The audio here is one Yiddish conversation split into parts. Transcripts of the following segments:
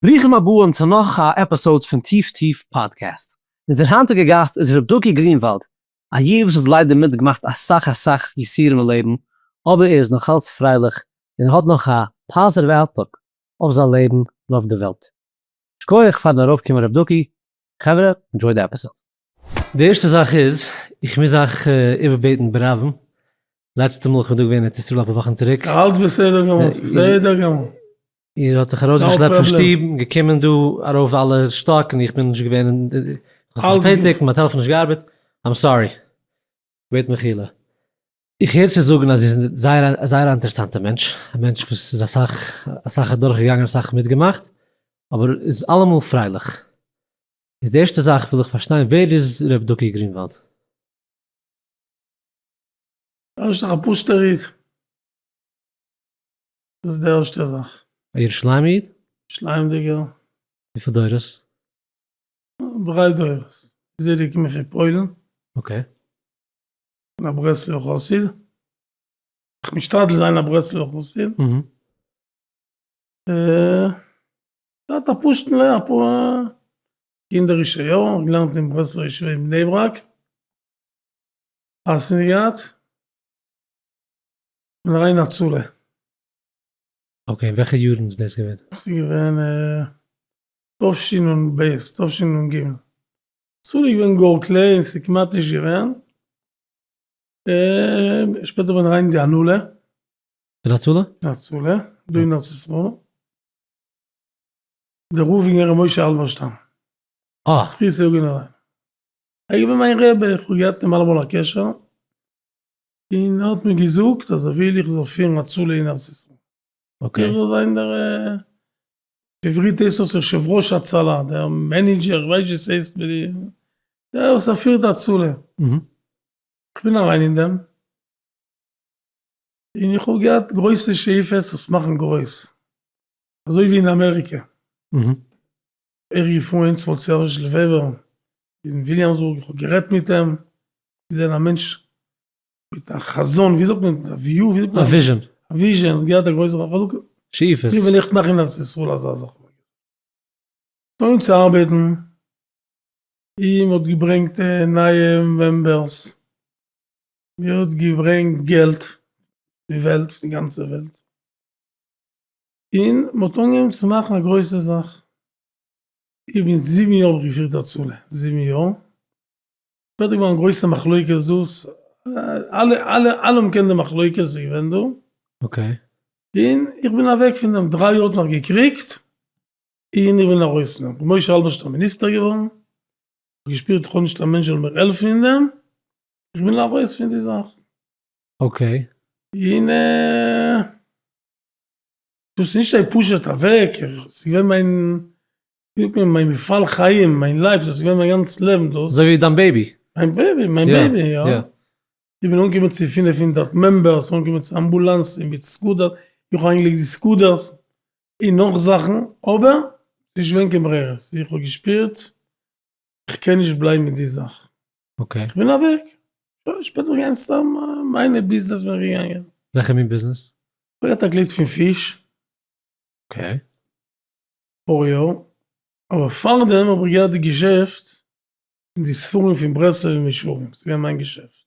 ברוכים הבאים צו נאך א עפיסאוד פון טיף טיף פאדקעסט. אונזער היינטיגע גאסט איז ר' דוקי גרינוואלד, א יוד וואס האט ליידער מיט געמאכט אסאך אסאך יסורים אין לעבן, אבער ער איז נאכאלץ פרייליך און ער האט נאך א פאזיטיוו אוטלוק אויף זיין לעבן און אויף די וועלט. שקויעך פארן ארויף קומען ר' דוקי, חברה ענדזשוי די עפיסאוד. די ערשטע זאך איז, איך מוז אייך איבערבעטן ברבים, לעצטע מאל איך בין דא געווען אין ארץ ישראל אפאר וואכן צוריק, אלץ בסדר גמור, ס'בסדר גמור. איר האט זיך ארויסגעשלעפט פון שטוב און געקומען דא ארויף אלע שטאק און איך בין נישט געווען אין די, כ'האב זיך פארשפעטיגט און מיין טעלעפאן האט נישט געארבעט, איים סארי, בעט מחילה. איך הער צו זאגן אז איר זענט זייער א זייער א אינטערעסאנטע מענטש, א מענטש וואס איז אסאך אסאך אדורכגעגאנגען און אסאך מיטגעמאכט, אבער איז אלעמאל פרייליך. איז די ערשטע זאך וויל איך פארשטיין ווער איז ר' דוקא גרינוואלד? ער איז דאך א פוסטער איד. דאס איז די ערשטע זאך. א ירושלימ'ע איד? ירושלימ'דיגער. וויפיל דורות? דריי דורות. איז ער געקומען פון פוילן. אקעי. און א ברסלב'ער חסיד. איך משתדל זיין א ברסלב'ער חסיד. אהה. געהאט א פשוט'ן לער ע פ קינדערישע יארן געלערנט אין ברסלב ישיבה אין בני ברק חתונה געהאט און א ריינע הצלה. אקעי וועלכע יארן איז דאס געווען? דאס איז געווען תשנ ב תשנ ג הצלה איז געווען גאר קליין ס'איז כמעט נישט געווען און שפעטער בין איך אריין אין די הנהלה. פון הצלה? פון הצלה דא אין ארץ ישראל. דער רב און ר' משה האלבערשטאם זכותו יגן עלינו איז געווען מיין רבי, איך האב געהאט מיט אים אלעמאל א קשר, און ער האט מיר געזאגט אז ער וויל איך זאל פירן הצלה אין ארץ ישראל, איך זאל זיין דער בעברית הייסט עס יושב ראש הצלה, דער מענעדזשער, איך ווייס נישט ווי עס הייסט, דער וואס ער פירט הצלה, איך בין אריין אין דעם, און איך האב געהאט גרויסע שאיפות וואס מאכן גרויס, אזוי ווי אין אמעריקע, איך געפרוינט צו סערזש וועבער אין וויליאמסבורג, איך האב גערעדט מיט אים, איז ער א מענטש מיט א חזון, ווי זאגט מען, א וויו, ווי זאגט מען, א וויזשען, א וויזשען, האט געהאט א גרויסע חלוקה, שאיפות, ווי וועל איך מאכן אין ארץ ישראל אזא זאך, אנגעהויבן צו ארבעטן, און מען האט געברענגט נייע מעמבערס, מיר האט געברענגט געלט די וועלט פון די גאנצע וועלט און מען האט אנגעהויבן צו מאכן א גרויסע זאך איך בין זיבן יאר האב איך געפירט הצלה זיבן יאר שפעטער געווארן גרויסע מחלוקת דאס אלע אלע אלע האבן געקענט די מחלוקת וואס איז געווען דא און איך בין אוועק פון דעם דריי יאר האט נאך געקריגט און איך בין ארויס נאך ווי משה האלבערשטאם איז נפטר געווארן געשפירט איך האב נישט א מענטש זאל מיר העלפן אין דעם, איך וויל ארויס פון די זאך. אקעי. און דאס איז נישט פשוט אוועק, עס איז געווען מיין, ווי זאגט מען, מיין מפעל חיים, מיין לייף, דאס איז געווען מיין גאנץ לעבן דאס. אזוי ווי דיין בעיבי. מיין בעיבי, מיין בעיבי, יא. זיי ווילן אנקומען צו פֿינף הונדערט מעמבערס, אנקומען צו אמבולאנסן מיט סקודער, איך האב איינגעלייגט די סקודערס, און נאך זאכן, אבער ס'נישט געווען קיין ברירה, סאו איך האב געשפירט איך קען נישט בלייבן מיט די זאך, איך בין אוועק, שוין שפעטער וועל איך גיין סתם מיינע ביזנעס בין איך געגאנגען. וועלכע מין ביזנעס? איך האב געהאט א געלט פון פיש. אקעי. אפאר יאר, אבער פארדעם האב איך געהאט די געשעפט און די ספרים פון ברסלב און ישרים, ס'געווען מיין געשעפט.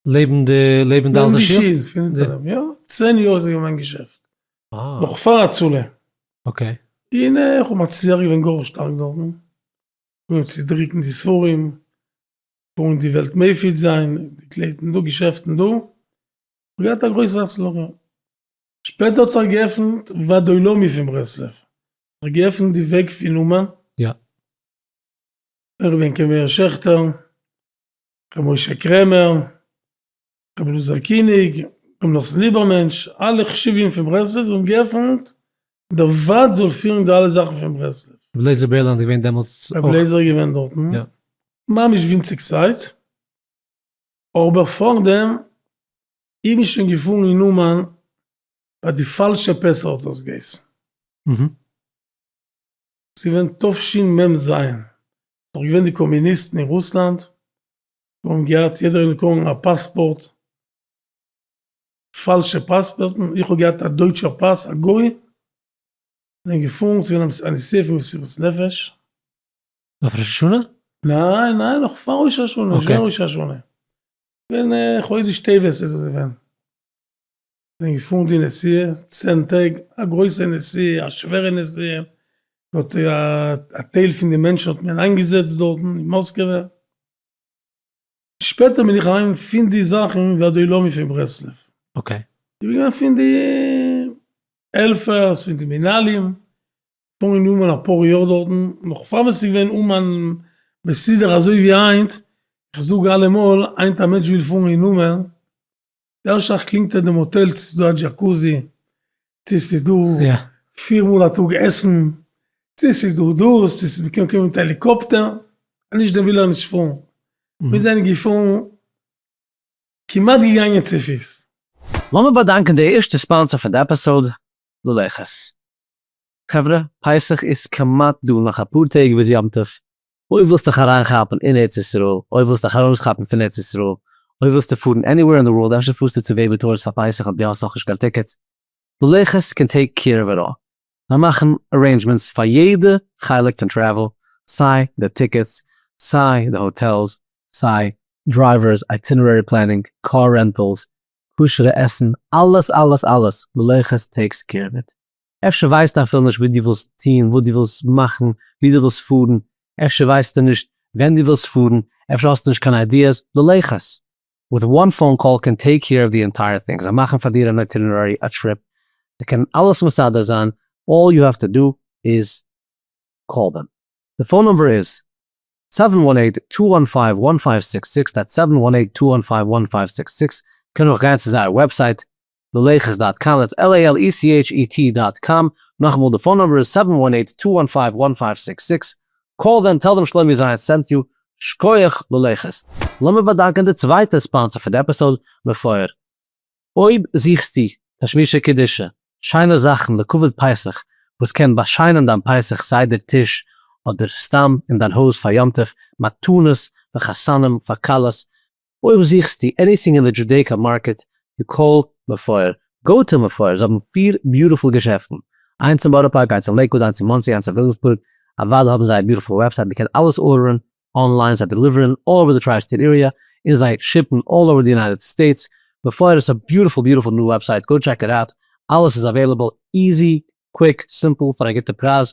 לעבן די לעבן די אלטע שול? יא, צען יאר איז עס געווען מיין געשעפט. נאך פאר הצלה. אקעי. און איך האב מצליח געווען גאר שטארק דארטן. אנגעהויבן צו דרוקן די ספרים, פארן די וועלט מפיץ זיין, די קלייטן דא, געשעפטן דא. געהאט א גרויסע הצלחה. שפעטער האט זיך געעפנט ועד עולמי פון ברסלב. זיך געעפנט די וועג פון אומאן. יא. איך בין כ מאיר שעכטער, כ משה קרעמער, כ בלאזער קיניג, כ נחשון ליבערמענטש, אלע חשובים פון ברסלב האבן געפענט דער וועד זאל פירן די אלע זאכן פון ברסלב. ר' בלעזער בערלאנד איז געווען דעמאלטס אויך? ר' בלעזער איז געווען דארטן ממש ווינציג צייט, אבער פארדעם איז מען שוין געפארן אין אומאן ביי די פאלשע פעסער האט ער עס געהייסן. ס'איז געווען תשמ ז, ס'איז דאך געווען די קאמיניסטן אין רוסלאנד, זיי האבן געהאט יעדער איז געקומען א פאספארט, פאלשע פאספארטן, איך האב געהאט א דויטשער פאס א גוי, זענען געפארן צו ווען א נסיעה פון מסירות נפש. אויף ראש השנה? ניין ניין נאך פאר ראש השנה, שוין ראש השנה, געווען חודש טבת איז דאס געווען. כ'בין געפארן די נסיעה צען טעג, א גרויסע נסיעה, א שווערע נסיעה, מ'האט א טייל פון די מענטשן האט מען איינגעזעצט דארטן אין מאסקעווע, שפעטער בין איך אהיים פון די זאכן ועד עולמי פון ברסלב, איך בין געווען פון די העלפערס, פון די מנהלים, פארן אין אומאן אפאר יאר דארטן, נאך פאר ווען ס'איז געווען אומאן מסודר אזוי ווי היינט, איך זאג אלעמאל, היינט א מענטש וויל פארן אין אומאן, דער שייך קלינגט אט דעם האטעל צו ס'איז דא א דזשאקוזי, צו ס'איז דא פיר מאל א טאג עסן, צו ס'איז דא דאס, צו ס'איז מ'קען קומען מיט העליקאפטער, אז נישט דעם וויל ער נישט פארן. מיר זענען געפארן, כמעט געגאנגען צופיס. לאמיר באדאנקען די ערשטע ספאנסער פון די עפיסאוד, לולייכעס. חברה, פסח איז כמעט דא, נאך אפאר טעג ביז יום טוב. אויב ווילסטיך אריינכאפן אין ארץ ישראל, אויב ווילסטיך ארויסכאפן פון ארץ ישראל, אויב ווילסטו פארן עניוועיר אין די ווארלד, אפשר פארסטו צו בעיבי טוירס פאר פסח אויב די האסט נאכנישט קיין טיקעט, בלעכעס קען טעיק קעיר אוו איט אלל, זיי מאכן ארעינדזשמענטס פאר יעדע חלק פון טרעוול, סיי די טיקעטס, סיי די האטעלס, סיי דרייווערס, אייטינערערי פלענינג, קאר רענטעלס, כשר'ע עסן, אלעס אלעס אלעס, בלעכעס טעיקס קעיר אוו איט. אפשר ווייסטו אפילו נישט וואס דו ווילסט טון, וואס דו ווילסט מאכן, וואו דו ווילסט פארן, אפשר ווייסטו נישט ווען דו ווילסט פארן, אפשר האסטו נישט קיין איידיעס, דו לעכערס. וויט וואן פאון קאל קען טעיק קעיר אוו די ענטייער טינג, זיי מאכן פאר דיר אן אייטינערערי, א טריפ, זיי קענען אלעס מסדר זיין, אלל יו העוו טו דא איז קאל דעם. די פאון נומבער איז, סעווען וואן עיט טו וואן פייוו וואן פייוו סיקס סיקס, דעטס סעווען וואן עיט טו וואן פייוו וואן פייוו סיקס סיקס, קען אויך גיין צו זייער וועבסייט, ללכת דאט קאם דעטס על איי על אי סי עיטש אי טי דאט קאם, נאכאמאל די פאון נומבער איז סעווען וואן עיט טו וואן פייוו וואן פייוו סיקס סיקס, קאל דעם טעל דעם שלומי זייער סענט יו, שקויעך ללכת. לאמיר באדאנקען די צווייטע ספאנסער פון די עפיסאוד, מפואר. אויב זוכסטו תשמישי קדושה, שיינע זאכן לכבוד פסח וואס קען באשיינען דיין פסח סדר טיש אדער סתם אין דיין הויז פאר יום טוב, מתנות פאר חתנים, פאר כלות, אויב זוכסטו עניטינג אין די דזשודעיקא מארקעט די קול מבפור, גאו טו מבפור, זיי האבן פיר ביוטיפול געשעפטן, איינס אין בארא פארק, איינס אין לעיקוואד, איינס אין מאנסי, איינס אין וויליאמסבורג, אוודאי האבן זיי א ביוטיפול וועבסייט, מען קען אלעס ארדערן אנליין, זיי דעליווערן אלל אווער די טריי סטעיט עריע, און זיי שיפן אלל אווער די יונייטעד סטעיטס, מבפור איז א ביוטיפול ביוטיפול ניו וועבסייט, גאו טשעק איט אוט, אלעס איז אוועילעבל, איזי, קוויק, סימפל, פאר א גוטע פרייז.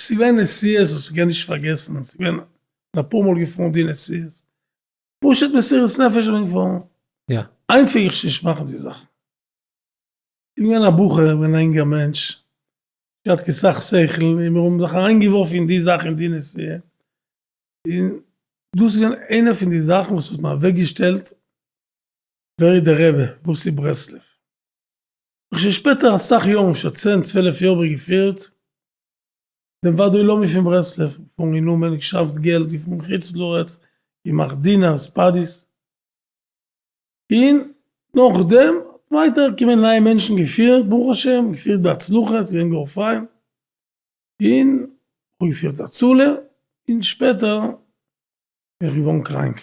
ס'איז געווען נסיעות וואס איך קען נישט פארגעסן, ס'איז געווען בין אפאר מאל געפארן די נסיעות, פשוט מסירות נפש איך בין געפארן, היינט פלעג איך שוין נישט מאכן די זאכן, איך בין געווען א בחור, איך בין א אינגער מענטש, נישט געהאט קיין סאך שכל, און מיר האבן זיך אריין געווארפן אין די זאך אין די נסיעה, און דאס איז געווען איינע פון די זאכן וואס האט מיר אוועק געשטעלט ווער איז דער רבי, וואס איז ברסלב, כ'שוין שפעטער אסאך יארן אפשר צען צוועלף יאר באגעפירט דעם ועד העולמי פון ברסלב, געפארן אין אומן, געשאפט געלט, געפארן חוץ לארץ, געמאכט דינער, ספאדיס, און נאכדעם ווייטער געקומען נייע מענטשן געפירט ברוך השם געפירט בהצלחה ס'געווען גאר פיין, און כ'האב געפירט הצלה, און שפעטער בין איך געווארן קראנק.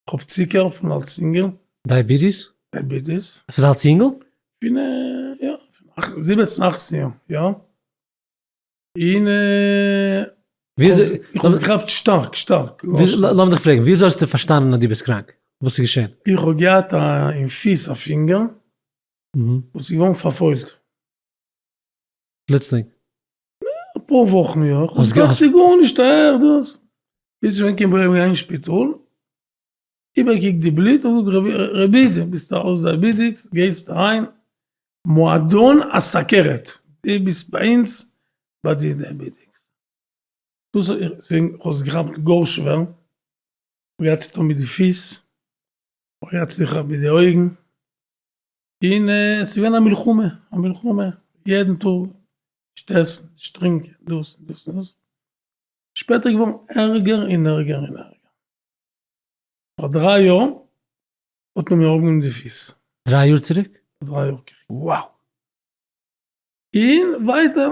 כ'האב צוקער פון אלס אינגעל. דייביטיס? דייביטיס. פון אלס אינגעל? פון יא, פון זיבעצן אכצן יאר, יא. און איך האב עס געכאפט שטארק, שטארק. לאמיר דיך פרעגן, וויאזוי האסטו פארשטאנען אז דו ביסט קראנק? וואס איז געשען? איך האב געהאט אין פיס א פינגער וואס איז געווארן פארפוילט. פלוצלינג? אפאר וואכן יא, כ'האב געהאט סיגור נישט א ער דאס, ביז שווענק אים ברענגען אין שפיטאל, איבער קוקט די בלוט און זאגט רבי דו ביסט ארויס דייביטיקס גייסט אריין מועדון הסכרת, דו ביסט ביי אונז ביי די דייביטיקס, דאס האט עס געכאפט גאר שווער, מ'גייט צו טון מיט די פיס, מ'רייצט זיך אויף מיט די אויגן, און עס איז געווען א מלחמה, א מלחמה, יעדן טאג, נישט עסן, נישט טרינקען, דאס און דאס און דאס, שפעטער איז געווארן ערגער און ערגער און ערגער, פאר דריי יאר האט מען מיר אראפגענומען די פיס. דריי יאר צוריק? דריי יאר צוריק. וואו! און ווייטער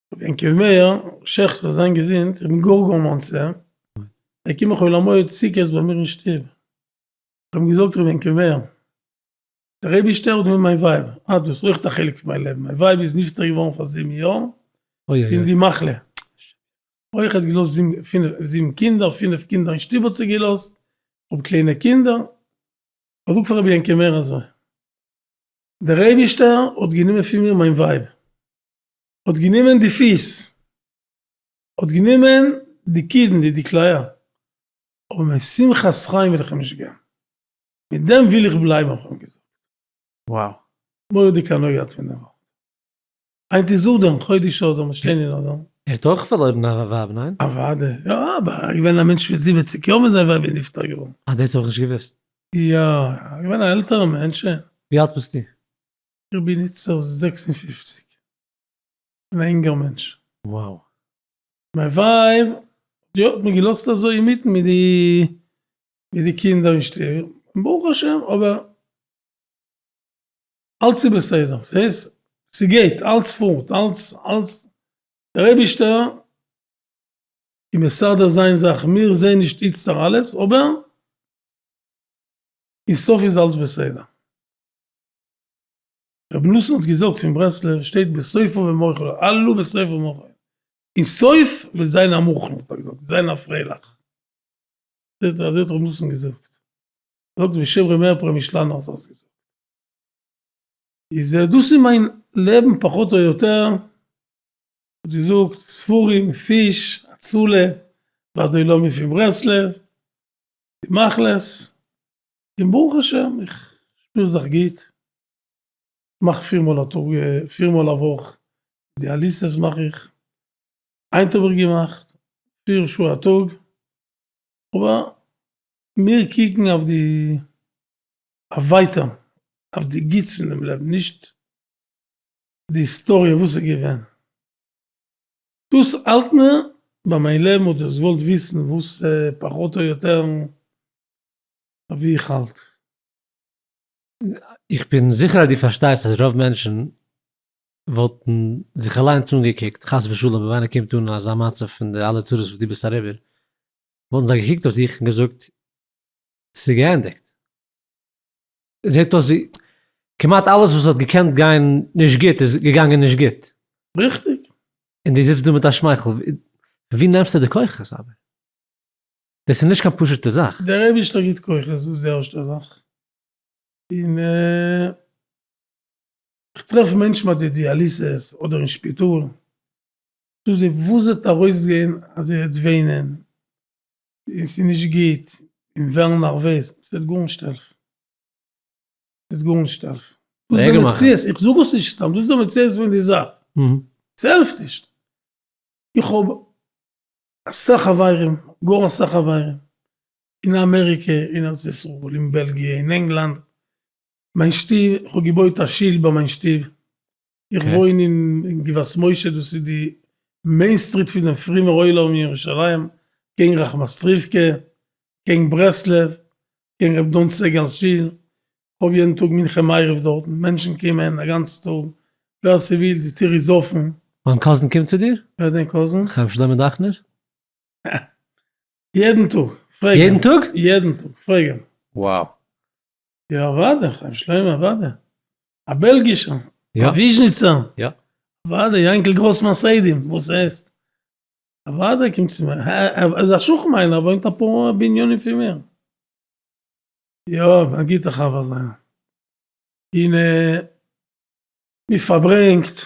ווען כ ו מאיר שעכט וועט זיין געזונט, איך בין גאר גאר מאנס אים, וועט קומען חול המועד סוכות ביי מיר אין שטוב, איך האב אים געזאגט ר' ווען כ ו מאיר, דער אייבישטער האט געוואונדען מיין ווייב, אה דאס איז אויך א חלק פון מיין לעבן, מיין ווייב איז נפטר געווארן פאר זיבן יאר פון די מחלה, אויך ער האט געלאזט זיבן קינדער, פינף קינדער אין שטוב האט זי געלאזט, איך האב קליינע קינדער, איך זאג פאר ר' ווען כ ו מאיר אזוי, דער אייבישטער האט גענומען פון מיר מיין ווייב, האט גענומען די פיס, האט גענומען די קידנ י, די כליה, אבער מיין שמחת חיים וויל איך אים נישט געבן, מיט דעם וויל איך בלייבן האב איך אים געזאגט. וואו. מורא'דיג הנאה געהאט פון דעם ווארט. היינט איז אדר, חודש אדר, מיר שטיין אין אדר. ער האט אויך פארלוירן א ווייב, ניין? אוודאי. יא, אבער ער איז געווען א מענטש פון זיבעציג יאר ווען זיין ווייב איז נפטר געווארן. אה, דאס האב איך נישט געוואוסט. יא, ער איז געווען א עלטערע מענטשען. ווי אלט ביסטו? איך בין איצטערט זעקס און פֿופֿציק, און א אינגער מענטש. וואו. מיין ווייב האט מיר געלאזט אזוי אינמיטן מיט די מיט די קינדער אין שטוב, און ברוך השם, אבער אלץ איז בסדר, ס'הייסט, ס'גייט, אלץ פארט, אלץ, אלץ, דער אייבישטער איז מסדר זיין זאכן, מיר זעהן נישט איצטער אלעס, אבער אין סוף איז אלץ בסדר. רבי נתן האט געזאגט פון ברסלב שטייט בסופו במוחו עלו בסופו במוחו אין סוף וועט זיין א מוחל האט ער געזאגט וועט זיין א פרייליך אזוי האט רבי נתן געזאגט זאגט בשם רבי מאיר פרעמישלאנער האט ער דאס געזאגט איז דאס איז מיין לעבן פחות או יותר האט געזאגט ספרים פיש הצלה ועד אילומי פון ברסלב די מחלות. און ברוך השם איך שפיר זיך גוט, כ'מאך פיר מאל א טאג, פיר מאל א וואך דיאליסעס מאך איך, היינט האב איך געמאכט פיר שעה א טאג, אבער מיר קוקן אויף די ווייטער, אויף די גוטס פונעם לעבן, נישט די היסטאריע וואס איז געווען, דאס האלט מיר ביי מיין לעבן, וואלט עס געוואלט וויסן וואס פחות או יותר ווי איך האלט. איך בין זיכער אז דו פארשטייסט אז רוב מענטשן וואלטן זיך אליינס אנגעקוקט, חס ושלום אויב איינער קומט אן אזא מצב פון די אלע צרות וואס דו ביסט אריבער, וואלטן זיי געקוקט אויף זיך און געזאגט, ס'איז געענדיגט. זעט אויס ווי כמעט אלעס וואס האט געקענט גיין נישט גוט איז געגאנגען נישט גוט. ריכטיג. און דו זיצט דא מיט א שמייכל. ווי נעמסטו די כוחות אבער? דאס איז נישט קיין פשוט'ע זאך. דער אייבישטער גיט כוחות, דאס איז די ערשטע זאך, און איך טרעף מענטשן ביי די דיאליסעס אדער אין שפיטאל, זאג זיי וואס וועט ארויסגיין אז איר וועט וויינען, און ס'איז נישט גוט, און ווערן נערוועז, ס'וועט גארנישט העלפן, ס'וועט גארנישט העלפן, דאס איז די מציאות, איך זאג עס נישט סתם, דאס איז די מציאות פון די זאך, ס'העלפט נישט, איך האב אסאך חברים, גאר אסאך חברים, אין אמעריקע, אין ארץ ישראל, אין בעלגיע, אין ענגלאנד, מיין שטוב, איך האב געבויט א שול ביי מיין שטוב, איך וואוין אין גבעת משה דאס איז די מעין סטריט פון דעם פרומער עולם אין ירושלים, קעגן רחמסטריווקע, קעגן ברסלב, קעגן ר' דן סגל שול, כ'האב יעדן טאג מנחה מעריב דארטן, מענטשן קומען א גאנצן טאג, ווער ס'וויל, די טיר איז אפן. מיין קאזין קומט צו דיר? ווער דיין קאזין? חיים שלמה דאכנער. יעדן טאג, פרעג אים. יעדן טאג? יעדן טאג, פרעג אים. wow. יא אוודאי, חיים שלמה אוודאי. א בעלגישער. יא. א וויזשניצער. יא. אוודאי, יענקל גראס פון סעדים, וואס עסט? אוודאי קומט צו מיר. ער איז א שכן מיינער, ער וואוינט אפאר בנינים פון מיר. יא, א גוטע חבר זיינער. און מען פארברענגט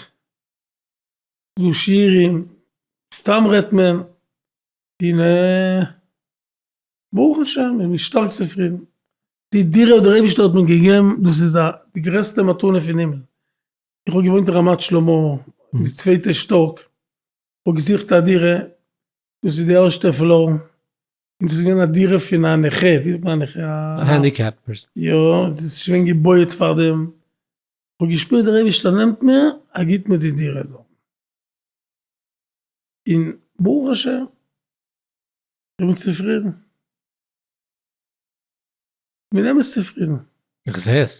דא שיעורים, סתם רעדט מען, און ברוך השם איז מען שטארק צופרידן. די דירה האט דער אייבערשטער האט מיר געגעבן, דאס איז די גרעסטע מתנה פון הימל. איך האב געוואוינט אין רמת שלמה, אין די צווייטע שטאק, איך האב געזוכט א דירה, דאס איז די ערשטע פלאר, און דאס איז געווען א דירה פון א נכה, ווי זאגט מען א נכה? א הענדיקעפ פערסאן. יא, דאס איז שוין געבויעט פאר דעם, כ'האב געשפירט דער אייבערשטער נעמט מיר, ער גיבט מיר די דירה דארט, און ברוך השם, איך בין צופרידן, כ'בין אמת צופרידן. איך זעה עס.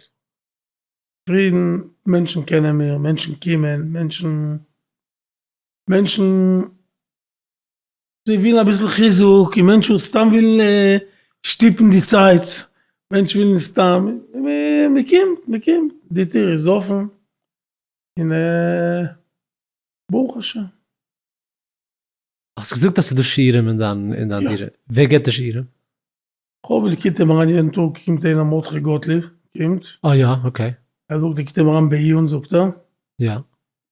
צופרידן, מענטשן קענען מיר, מענטשן קומען, מענטשן, מענטשן. זיי ווילן אביסל חיזוק און מענטשן וואס סתם ווילן שטופן די צייט, מענטשן ווילן סתם, מען קומט, מען קומט, די טיר איז אפען, און ברוך השם. האסט געזאגט אז ס'איז דא שיעורים אין דיין דירה, ווער גיבט די שיעורים? כהאב געקוט אים אריין יעדן טאג קומט איינער מרדכי גאטליב קומט. אה יא אקעי. ער זאגט ער קומט אים אריין בעיון זאגט ער. יא.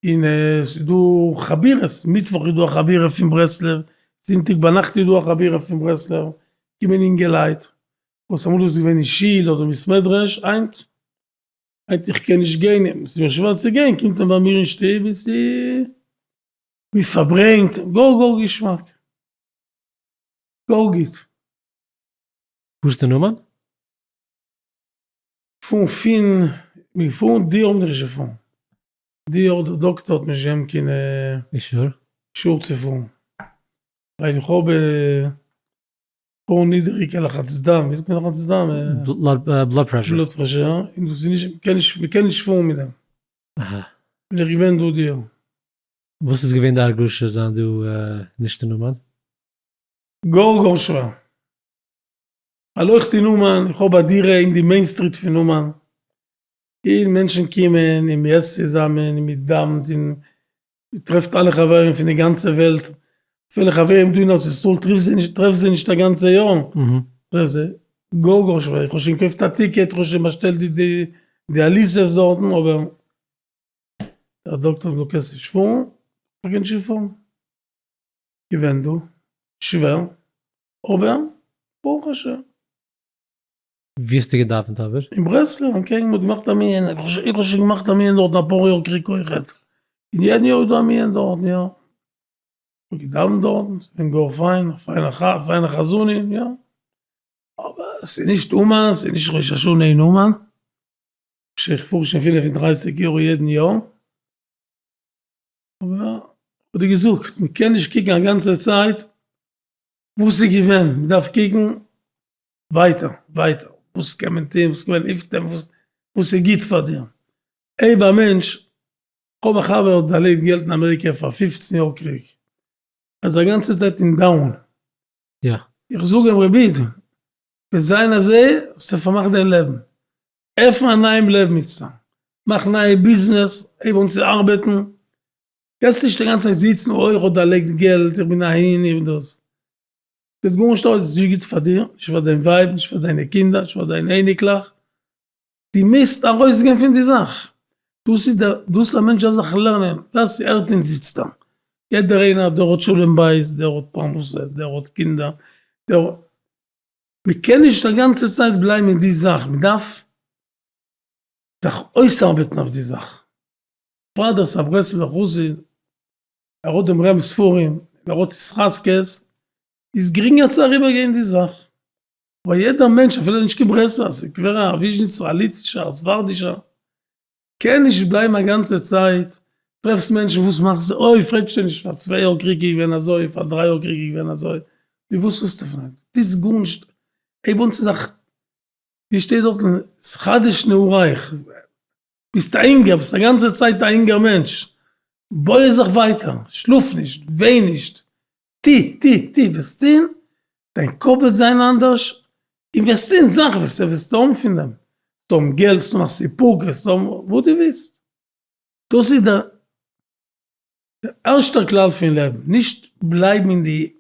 און סאיז דא חבירות מיטוואך איז דא א חבירה פון ברסלב זונטאג ביינאכט איז דא א חבירה פון ברסלב קומען אינגעלייט וואס אמאל איז געווען אין שול אדער בית מדרש היינט היינט איך קען נישט גיין און סאיז מיר שווער צו גיין קומט מען ביי מיר אין שטוב און סאיז מפארברענגט גאר גאר געשמאק. גאר גוט. וואס איז די נאמען? פון פין מיר פאון די האב נישט די פאון די אדער די דאקטער האט נישט געהען קין אישור אישור צו פאון ווייל איך האב פאון נידעריגע לחץ דם ווי זאגט מען לחץ דם בלאד פרעשור בלאד פרעשור אין דאס איז נישט מ'קען נישט מ'קען נישט פאון מיט דעם אהא בין איך געווען דא די יאר. וואס איז געווען די הרגשה זיין דא נישט אין אומאן? גאר גאר שווער. ווייל אויך אין אומאן, איך האב א דירה אין די מעין סטריט פון אומאן, און מענטשן קומען און מ'עסט צוזאמען און מ'דאוונט און מ'טרעפט אלע חברים פון די גאנצע וועלט, אפילו חברים דא אין ארץ ישראל טריפסט זיי נישט, טרעפסט זיי נישט א גאנצע יאר, טרעפסט זיי, גאר גאר שווער, איך האב שוין געקויפט א טיקעט, איך האב שוין באשטעלט די די די אליסעס דארטן, אבער דער דאקטער זאגט דו קענסט נישט פארן, איך קען נישט פארן. געווען דא שווער אבער ברוך השם. ווי האסטו געדאווענט אבער? אין ברסלב אנטקעגן מ'האט געמאכט א מנין, איך האב שוין געמאכט א מנין דארטן אפאר יאר קרק אויכעט, און יעדן יאר איז דא א מנין דארטן יא, כ'האב געדאווענט דארטן, ס'איז געווען גאר פיין, א פיינע חזנים יא, אבער ס'איז נישט אומאן, ס'איז נישט ראש השנה אין אומאן, איך פאר שוין פינף און דרייסיג יאר יעדן יאר. אבער איך האב דיר געזאגט, מען קען נישט קוקן א גאנצע צייט וואס איז געווען, מען דארף קוקן ווייטער, ווייטער, וואס קען מען טון, וואס קען מען אויפטון, וואס איז גוט פאר דיר. הייב א מענטש, איך האב א חבר וואס האט דערלייגט געלט אין אמעריקע פאר פופצן יאר קריג, ער איז א גאנצע צייט אין דאון, איך זאג אים רבי איד, וועט זיין אזוי, האסטו פארמאכט דיין לעבן, עפן א נייעם לעבן מיט סתם, מאך נייע ביזנעס, הייב אן צו ארבעטן, קענסט נישט די גאנצע צייט זיצן אוי איך האב דערלייגט געלט, איך בין אהין איך בין דאס, זעט גארנישט אויס, איז נישט גוט פאר דיר, נישט פאר דיין ווייב, נישט פאר דיינע קינדער, נישט פאר דיינע אייניקלעך, די מוזט ארויסגיין פון די זאך, דאס איז דער, דאס א מענטש דארף זיך לערנען, ווער ס'הערט אונז זיצט דא, יעדער איינער דער האט שלום בית, דער האט פרנסה, דער האט קינדער, דער. מען קען נישט א גאנצע צייט בלייבן אין די זאך, מען דארף זיך אויסארבעטן אויף די זאך, פאדער סא ברסלב'ער חסיד, ער האט דעם רמ ספרים, ער האט היס חזקות, איז גרינגער צו אריבערגיין די זאך, אבער יעדער מענטש אפילו נישט קיין ברסלב'ער, ס'קווערער, א וויזשניצער, א ליטווישער, א ספרדישער, קען נישט בלייבן א גאנצע צייט, טרעפסט מענטשן וואס מאכן זיך אוי פרעגסט שוין נישט פאר צוויי יאר קריג איז געווען אזוי פאר דריי יאר קריג איז געווען אזוי, מיט וואס ווילסטו פרעגן טוס גארנישט הייב אן צו זיך ווי שטייט דארט אין חדש נעורייך ביסט א אינגער ביסט א גאנצע צייט א אינגער מענטש בוי זיך ווייטער שלאף נישט וויין נישט טו, טו, טו, וועסט טון, דיין קאפ וועט זיין אנדערש, און וועסט טון זאכן וואס די וועסט האבן פון דעם, וועסט האבן געלט, וועסט האבן א סיפוק, וועסט האבן וואס דו ווילסט, דאס איז דער ערשטער כלל פון לעבן, נישט בלייבן אין די.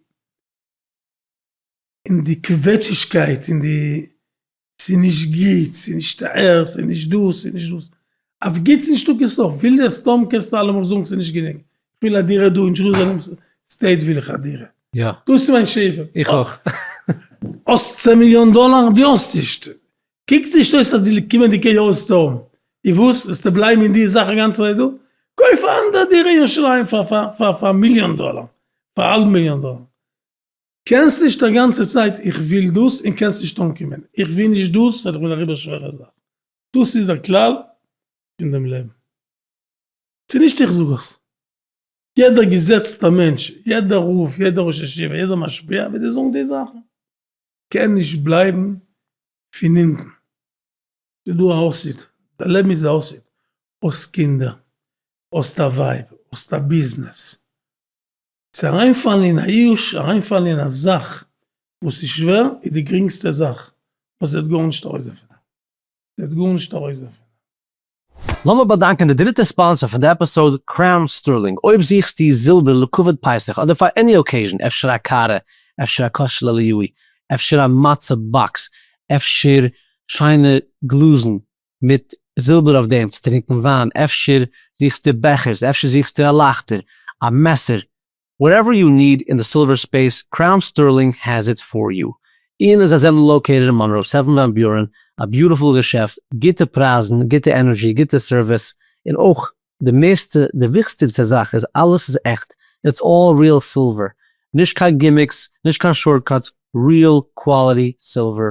און די קוועטשישקייט און די ס'איז נישט גוט, ס'איז נישט הערסט, ס'איז נישט דאס, ס'איז נישט דאס, אויף גוטס נישטא קיין סוף, וויל דער סדום קענסטו אלעמאל זאגן ס'איז נישט גענוג, כ'וויל א דירה דא אין דשרוזעלעם סטעיט וויל איך א דירה, דאס איז מיין שאיפה, איך אויך, האסט צען מיליאן דאלאר? דו האסט נישט, קוקסט נישט אויס אז די קומענדיגע יאר וועסטו האבן, און וואס? וועסטו בלייבן אין די זאך אינגאנצן אזוי דא? קויף א אנדערע דירה אין ירושלים פאר פאר פאר מיליאן דאלאר, פאר א האלב מיליאן דאלאר. קענסט נישט א גאנצע צייט איך וויל דאס און קענסט נישט אנקומען איך וויל נישט דאס וועט איך מיר דעריבער שווערע זאך דאס איז דער כלל פון דעם לעבן ס'איז נישט איך זאג עס יעדער געזעצטע מענטש יעדער רב יעדער ראש ישיבה יעדער משפיע וועט דיר זאגן די זאכן קען נישט בלייבן פון אונטן ס'איז דא א האסית די לעבן איז א האסית האסט קינדער האסט א ווייב האסט א ביזנעס. צו אריינפאלן אין א יאוש, אריינפאלן אין א זאך וואס איז שווער, איז די גרינגסטע זאך, ווייל ס'וועט גארנישט ארויס דערפון, ס'וועט גארנישט ארויס דערפון. לאמיר באדאנקען די דריטע ספאנסער פון די עפיסאוד, קראון סטערלינג, אויב זוכסטו זילבער לכבוד פסח אדער פאר עני אקעיזשן, אפשר א קארע, אפשר א קאש לעליווי, אפשר א מצה באקס, אפשר שיינע גלאזן, מיט זילבער אויף דעם צו טרינקן וויין, אפשר זוכסטו בעכערס, אפשר זוכסטו א לייכטער, א מעסער, וואטעווער יו ניד אין די סילווער ספעיס, קראון סטערלינג האס איט פאר יו, און און זיי זענען לאקעיטעד אין מאנרא, סעווען וואן ביורען, א ביוטיפול געשעפט, גוטע פרייזן, גוטע ענערדזשי, גוטע סערוויס, און אויך די מערסטע, די וויכסטיגסטע זאך איז אלעס איז עכט, איטס אלל ריעל סילווער, נישט קיין גימיקס, נישט קיין שארטקאטס, ריעל קוואליטי סילווער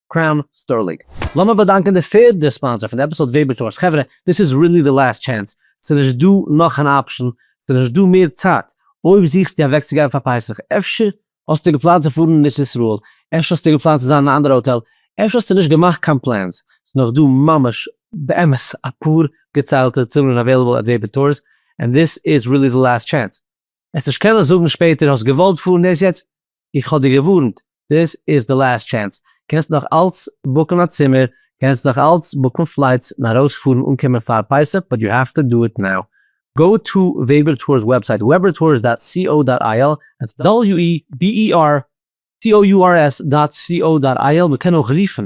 קראון סטארלינק. לאמיר באדאנקען די פערדע ספאנסער פון די עפיסאד וועבער טארס. חברה, דאס איז רילי די לאסט טשענס, ס'איז נישט דא נאך אן אפשן, ס'איז נישט דא מער צייט, אויב זוכסטו אוועקצוגיין פאר פסח, אפשר האסטו געפלאנט צו פארן אין ארץ ישראל, אפשר האסטו געפלאנט צו זיין אין א אנדערע האטעל, אפשר האסטו נישט געמאכט קיין פלענס, ס'איז נאך דא ממש באמת אפאר געציילטע צימערן אוועילעבל עט וועבער טארס, און דאס איז רילי די לאסט טשענס. עס נישט קענען זאגן שפעטער האסט געוואלט פארן דאס יעצט, איך האב דיר געווארנט, דאס איז די לאסט טשענס, קענסט נאך אלץ בוקן א צימער, קענסט נאך אלץ בוקן פלייטס און ארויס פארן אנקומען פאר פסח באט יו האוו טו דא איט נאו, גאו טו וועבער טורס וועבסייט webertours דאט סי או דאט איי על, דעטס דאבעליו אי בי אי אר טי או יו אר עס דאט סי או דאט איי על, מען קען אויך רופן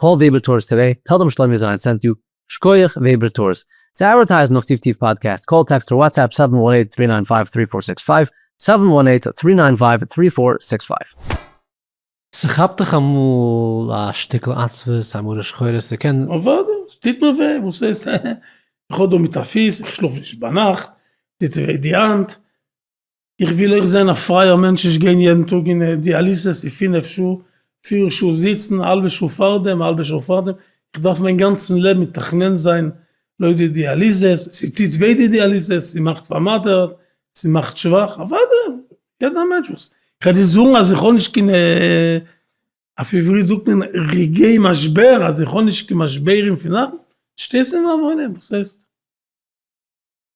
קאל וועבער טורס טודעי, טעל דעם שלומי זיין סענט יו. שקויעך וועבער טורס. צו אדווערטייזן אויף טיף טיף פאדקעסט, קאל, טעקסט אר וואטסעפפ סעווען וואן עיט טרי ניין פייוו טרי פאר סיקס פייוו, סעווען וואן עיט טרי ניין פייוו טרי פאר סיקס פייוו. ס'כאפט דיך אמאל א שטיקל עצבות, א מרה שחורה, ס'קען. אוודאי, ס'טוט מיר וויי, וואס איז? איך האב דא מיט א פיס, איך שלאף נישט ביינאכט, טוט וויי די האנט. איך וויל אויך זיין א פרייער מענטש נישט גיין יעדן טאג אין דיאליסעס פון פינף שעה פיר שעה זיצן האלבע שעה פארדעם האלבע שעה פארדעם איך דארף מיין גאנצן לעבן מתכנן זיין לויט די דיאליסעס ס'טוט וויי די דיאליסעס ס'מאכט פארמאטערט ס'מאכט שוואך אוודאי יעדער מענטש וואס כ'על דיר זאגן אז איך האב נישט קיין אויף עברית זאגט מען רגעי משבר אז איך האב נישט קיין משברים פון נאכן שטייסט אין מיין וואוינען וואס הייסט.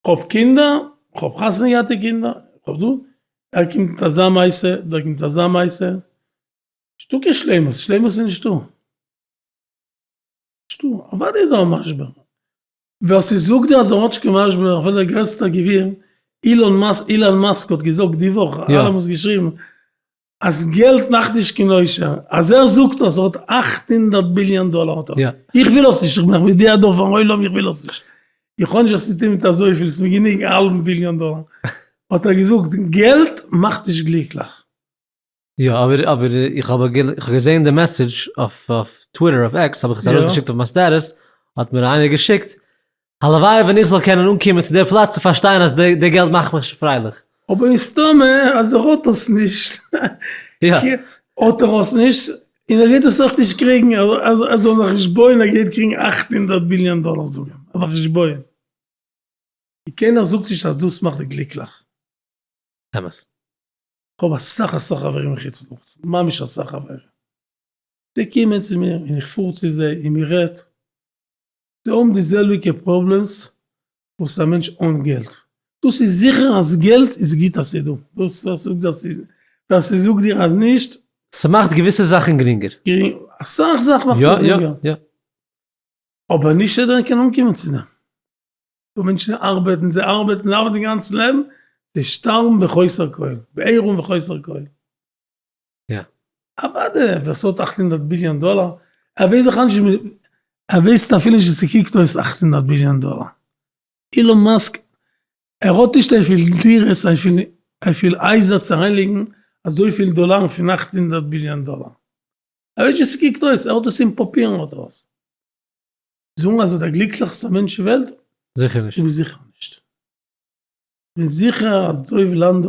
כ'האב קינדער, כ'האב חתונה געהאט די קינדער, כ'האב דא, ער קומט מיט אזא מעשה, דער קומט מיט אזא מעשה, נישטא קיין שלימות, שלימות איז נישטא, נישטא, אוודאי איז דא א משבר, ווער ס'זאגט דיר אז האט קיין משבר, אפילו דער גרעסטער גביר, אילאן מאסק האט געזאגט די וואך, אלעמען האבן עס געשריבן, אז געלט מאכט נישט קיין עושר, אז ער זאגט אז ער האט אַכט הונדערט ביליאן דאלער האט ער, איך וויל עס נישט, איך בין מודיע דא פארן עולם איך וויל עס נישט, איך האב נישט וואס צו טון מיט אזויפיל, ס'איז מיר גענוג א האלבן ביליאן דאלער, האט ער געזאגט געלט מאכט נישט גליקליך. יא אבער אבער איך האב געזעהן די מעסעדזש אויף טוויטער אויף עקס האב איך עס ארויסגעשיקט אויף מיין סטעטוס האט מיר איינער געשיקט הלוואי ווען איך זאל קענען אנקומען צו דער פלאץ צו פארשטיין אז די געלט מאכט מיך פרייליך. אבער מסתמא אז ער האט עס נישט, האט ער עס נישט, און ער גייט דאס אויך נישט קריגן, ער זאל זיך נישט בויען ער גייט קריגן אַכט הונדערט ביליאן דאלער זאג אים, ער זאל זיך נישט בויען, און קיינער זאגט נישט אז דאס מאכט דיך גליקליך. אמת. כ'האב אסאך אסאך חברים אין חוץ לארץ, ממש אסאך חברים, זיי קומען צו מיר און איך פאר צו זיי און מ'רעדט, זיי האבן די זעלביגע פראבלעמס וואס א מענטש אן געלט, דאס איז זיכער אז געלט איז גוט אז ס'איז דא, דאס ווער ס'זאגט אז ס'איז ווער ס'זאגט דיר אז נישט. ס'מאכט געוויסע זאכן גרינגער. אסאך זאכן מאכט עס גרינגער. אבער נישט יעדער קען אנקומען צו דעם. דא מענטשן ארבעטן, זיי ארבעטן, זיי ארבעטן די גאנצע לעבן, זיי שטארבן בחוסר כל, בעירום וחוסר כל. אוואדע ווער ס'האט אַכט הונדערט ביליאן דאלאר ער וועט זיך אנש ער וויסט אפילו נישט ווי ס'קוקט אויס אַכט הונדערט ביליאן דאלאר. אילאן מאסק ער האט נישט אויפיל דירות אויפיל אויפיל הייזער צו אריינלייגן אזויפיל דאלארן פון אַכט הונדערט ביליאן דאלאר. ער ווייסט נישט ווי ס'קוקט אויס ער האט עס אין פאפירן האט ער עס. זאגן אז ער דער גליקליכסטער מענטש אין וועלט? זיכער נישט. איז זיכער נישט. כ'בין זיכער אז דוב לאנדא.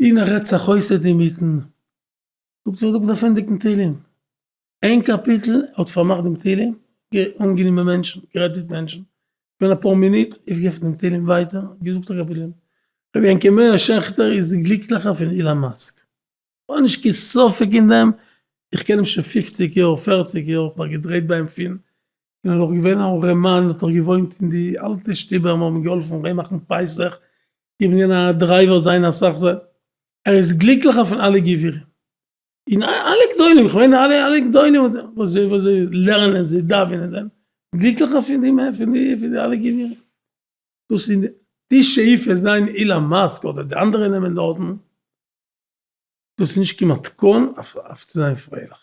און ער רעדט זיך אויס אינמיטן, זאגט זיי זאג דעם פרענדיגן תהלים, איין קאפיטל, ער האט פארמאכט דעם תהלים, אנגענומען מענטשן, גערעדט מיט מענטשן, געווען אפאר מינוט, אויפגעעפנט דעם תהלים ווייטער, געזאגט א קאפיטל, רבי יענקי מאיר שעכטער איז גליקליכער פון אילאן מאסק, כ'האב נישט קיין ספק אין דעם, איך קען אים שוין פופציג יאר, פערציג יאר, כ'האב געדרייט ביי אים פון און ער איז נאך געווען א ארעמאן, האט נאך געוואוינט אין די אלטע שטובער, מיר האבן אים געהאלפן אריינמאכן פסח, איך בין געווען א דרייווער זיינע אסאך זיי ער איז גליקליכער פון אלע גבירים און אלע גדולים איך מיין אלע אלע גדולים וואס זיי וואס זיי לערנען זיי דאווענען זיי גליקליכער פון די פון די פון די אלע גבירים דאס איז די שאיפה זיין אילאן מאסק אדער די אנדערע נעמען דארטן דאס איז נישט קיין מתכון אויף אויף צו זיין פרייליך.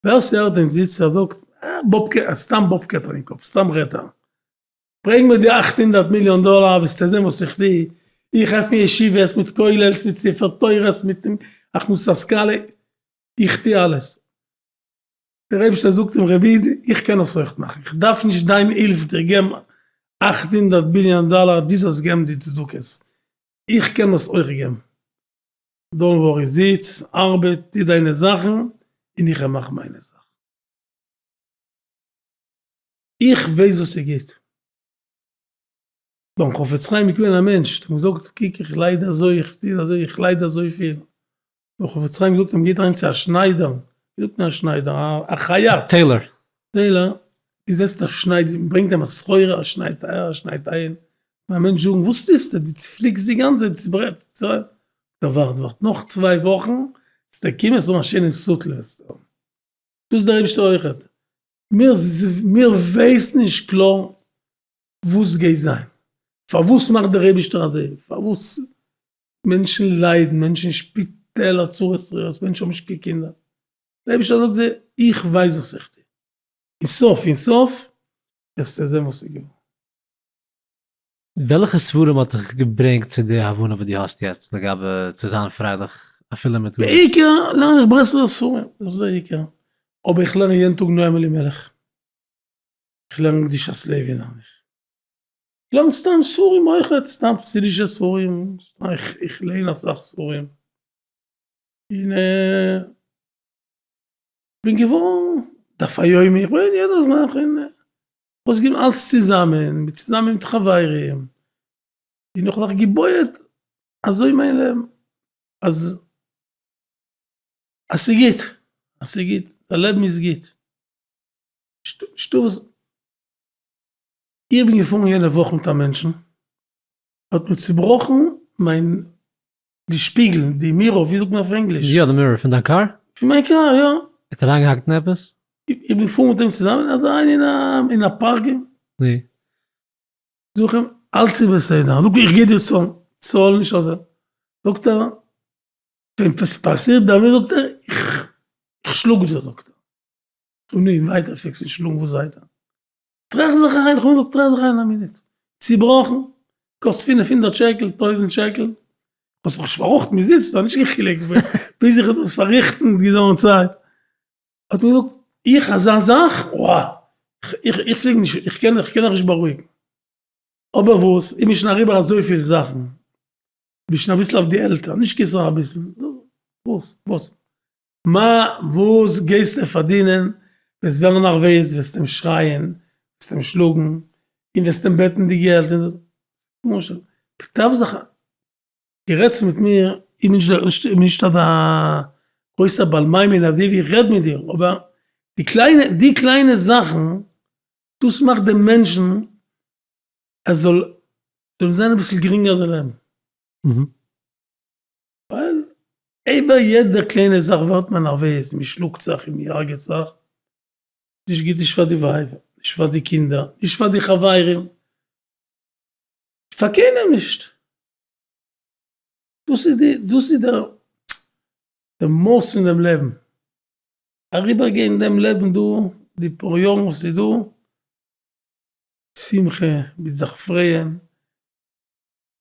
ווער ס'הערט דעם זיצער זאגט אה באב קעטערינג סתם באב קעטערינג קאפ סתם רעדט ער. ברענג מיר די אכט הונדערט מיליאן דאלאר וועסטו זען וואס איך טו, איך עפן ישיבות מיט כולל'ס מיט ספר תורה'ס מיט הכנסת השכלה, איך טו אלעס. דער אייבערשטער זאגט אים רבי איד איך קען עס אויך מאכן, איך דארף נישט דיין הילף דיר געבן אכט הונדערט ביליאן דאלאר דו זאלסט געבן די צדקות, איך קען דאס אויך געבן, דאונט ווארי זיץ ארבעט טו דיינע זאכן און איך וועל מאכן מיינע זאכן. איך ווייס וואס איז גוט. ביים חפץ חיים איז געווען א מענטש, האט אים געזאגט, קוק איך לייד אזוי, איך טוה אזוי, איך לייד אזויפיל, האט דער חפץ חיים געזאגט אים, גייט אריין צו א שניידער, ווי זאגט מען א שניידער, א חייט, טעילאר, און זעצט א שנייד, ברענגט אים א סחורה, ער שניידט אהער, ער שניידט אהין, קען א מענטש זאגן, וואס טוסטו, דו צופליקסט די גאנצע צייט, צוברעטסט, צו, זאגט ער, ווארט, ווארט נאך צוויי וואכן, וועסטו קומען, וועסטו האבן א שיינעם סוטל, וועסטו האבן, טוט דער אייבערשטער אויכעט, מיר ווייסן נישט קלאר וואס גייט זיין, פארוואס מאכט דער אייבערשטער אזוי, פארוואס מענטשן ליידן, מענטשן אין שפיטעלער, צרות רעות, מענטשן האבן נישט קיין קינדער, דער אייבערשטער זאגט זיי, איך ווייס וואס איך טו, און סוף און סוף וועסטו זען וואס איז געווארן. וועלכע ספרים האט דיך געברענגט צו די הבנה וואס דו האסט יעצט לגבי צו זיין פרייליך אפילו מיט גארנישט? בעיקר לערן איך ברסלב'ער ספרים, דאס איז דער עיקר, אבער איך לערן יעדן טאג נועם אלימלך, איך לערן קדושת לוי לערן איך, איך לערן סתם ספרים אויך, סתם חסידישע ספרים, איך ליין אסאך ספרים, און כ'בין געווארן דף היומי, כ'בין יעדע זאך און אויסגעגעבן אלץ צוזאמען, צוזאמען מיט חברים, און איך האב זיך געבויעט אזוי מיין לעבן, אז אז ס'גוט, אז ס'גוט, די לעבן איז גוט, נישטא וואס, איך בין געפארן יענע וואך מיט א מענטשן, ער האט מיר צובראכן מיין די שפיגל, די מירא, ווי זאגט מען אויף ענגליש? יא די מירא פון דיין קאר? פון מיין קאר יא. האט אריין געהאקט אין עפעס? איך בין געפארן מיט אים צוזאמען אזוי אריין אין א פארקינג. נו? זאג איך אים אלץ איז בסדר איך זאג איך גיב דיר צאלן צאל נישט אזוי זאגט ער ווען עפעס פאסירט ביי מיר זאגט ער איך שלאג דיר זאגט ער. איך האב אים ווייטער פיקס געשלאגן וואס זייט ער. טראכט זיך אריין, איך האב געזאגט טראכט זיך אריין א מינוט, צובראכן, קאסט פֿינף הונדערט שקל, טויזנט שקל, האסט זיך נישט פארראכטן ביז איצט, האט נישט קיין חילוק ביז איך האב דאס פארריכטן האט געדויערט צייט, האט מען געזאגט איך אזא זאך, וואה, איך איך פלעג נישט, איך קען איך קען זיך נישט בארואיגן, אבער וואס, איך בין שוין אריבער אזויפיל זאכן, בין שוין אביסל אויף די עלטער, נישט קיין סאך אביסל, וואס וואס. מע וואָס גייסטו פֿאַרדינען? וועסט וועלן נאָך וועז, וועסט אים שרײַען, וועסט אים שלאָגן און וועסט אים בעטן די געלט און דאָס. משל, פּטרעוו זיך אײַן. דו רעדסט מיט מיר, איך בין נישט, איך בין נישט אַזאַ גרויסער בעל-מאימין אַזוי ווי איך רעד מיט דיר, אָבער די קליינע, די קליינע זאַכן, דאָס מאַכט דעם מענטשן, עס זאָל, זאָל אים זײַן אַ ביסל גרינגער דער לעבן. ווייל איבער יעדע קליינע זאך ווערט מען נערוועז, מען שלאגט זיך און מען הרג'עט זיך, נישט גוט נישט פאר די ווייב, נישט פאר די קינדער, נישט פאר די חברים, פאר קיינעם נישט, דאס איז די, דאס איז דער דער מהות פון דעם לעבן, אריבער גיין דעם לעבן דא, די פאר יארן וואס איז דא, שמחה, מיט זיך פרייען,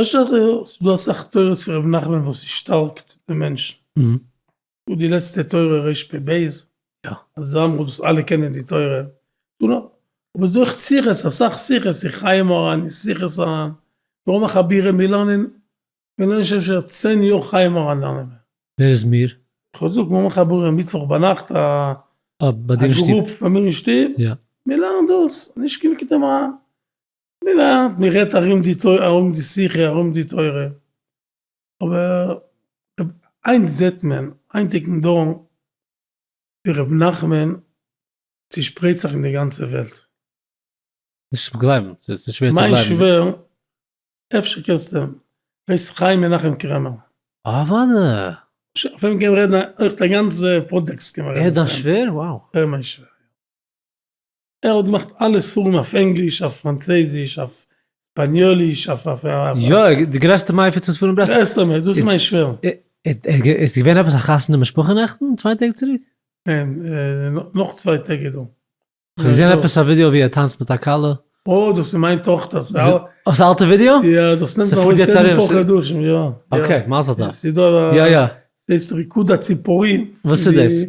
אפשר ס'איז דא אסאך תורות פון ר' נחמן וואס איז שטארקט די מענטשן, און די לעצטע תורה רש פ ב אז זאמר האט דאס אלע קענען די תורה, אבער ס'איז דא אויך שיחות אסאך שיחות אין חיי מוהרן אין שיחות הר ן, מ'רוב מחבירים מיר לערנען מיר לערנען שוין אפשר צען יאר חיי מוהרן לערנען מיר. ווער איז מיר? כ'האב געזאגט מיר האבן מחברים מיטוואך ביינאכט א גרופ ביי מיר אין שטוב מיר לערנען דאס, נישט קיין מקדמא. מילא מען רעדט ארום די תורה ארום די שיחה ארום די תורה אבער היינט זעט מען היינטיגן דור ווי ר' נחמן צושפרייט זיך אין די גאנצע וועלט. נישט צו גלייבן, ס'איז שווער צו גלייבן. מיין שווער, אפשר קענסטו אים, הייסט חיים מנחם קרעמער. אוודאי. אויף אים קען מען רעדן אויך א גאנצע פאדקעסט קען מען רעדן. ער איז דיין שווער? וואו. ער איז מיין שווער. ער האט געמאכט אלע ספרים אויף ענגליש, אויף פראנצויזיש, אויף שפאניאליש, אויף אויף אויף. יא, די גרעסטע מפיץ פון ספרים ברסלב. ברסלב, דאס איז מיין שווער. איז געווען עפעס א חתונה משפחה נעכטן, צוויי טעג צוריק? ניין, נאך צוויי טעג איז דא. כ'האב געזען עפעס א ווידיאו ווי ער טאנצט מיט א כלה. אוי, דאס איז מיין טאכטער. דאס אלטע ווידיאו? יא, דאס נעמט ארויס יעדע פאר חדשים, יא. אקעי, מזל טוב. ס'איז דא א. יא יא. ס'הייסט ריקוד הציפורים. וואס איז דאס?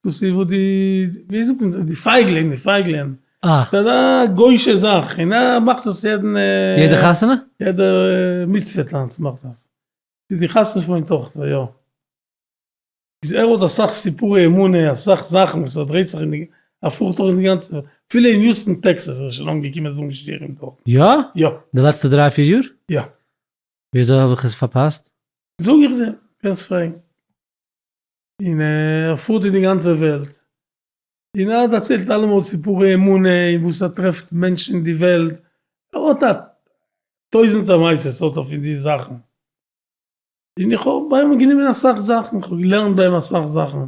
דאס איז וואס די, ווי זאגט מען, די פייגלען, די פייגלען, ס'איז אזא גוי'שע זאך, און א מאכט דאס יעדן, יעדע חתונה? יעדע מצוה טאנץ מאכט דאס, צו די חתונה פון מיין טאכטער, יא. איז ער האט אסאך סיפורי אמונה, אסאך זאכן וואס ער דרייט זיך אין, ער פארט דורך די גאנצע, אפילו אין יוסטן טעקסעס איז ער שוין אנגעקומען זאגן שיעורים דארט. יא? יא. די לעצטע דריי פיר יאר? יא. וויאזוי האב איך עס פארפאסט? זאג איך דיר, קענסט פרעגן. און ער פארט אין די גאנצע וועלט און ער דערציילט אלעמאל סיפורי אמונה און וואס ער טרעפט מענטשן אין די וועלט, ער האט א טויזענטער מעשה'ס האט ער פון די זאכן, און איך האב ביי אים גענומען אסאך זאכן, איך האב געלערנט ביי אים אסאך זאכן,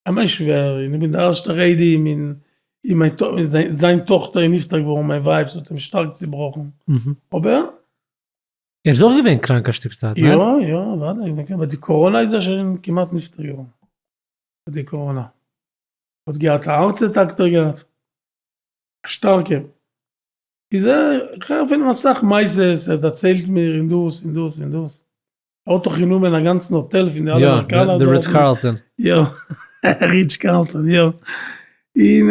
א מענטש ווער און איך בין דער ערשטער איידעם און זיין טאכטער איז נפטר געווארן, מיין ווייב, ס'האט אים שטארק צעבראכן, אבער. ער איז אויך געווען קראנק א שטיק צייט, ניין? יא יא אוודאי, אבער די קאראנא איז ער שוין כמעט נפטר געווארן, מיט די קאראנא, האט געהאט א הארץ אטאק האט ער געהאט, א שטארקע, איז ער, איך הער פון אים אסאך מעשות, ער דערציילט מיר און דאס און דאס און דאס, ער האט דאך גענומען א גאנצן האטעל פון די אלע אמעריקאנער דארט, יא, די ריטץ קארלטאן, יא, ריטץ קארלטאן יא, און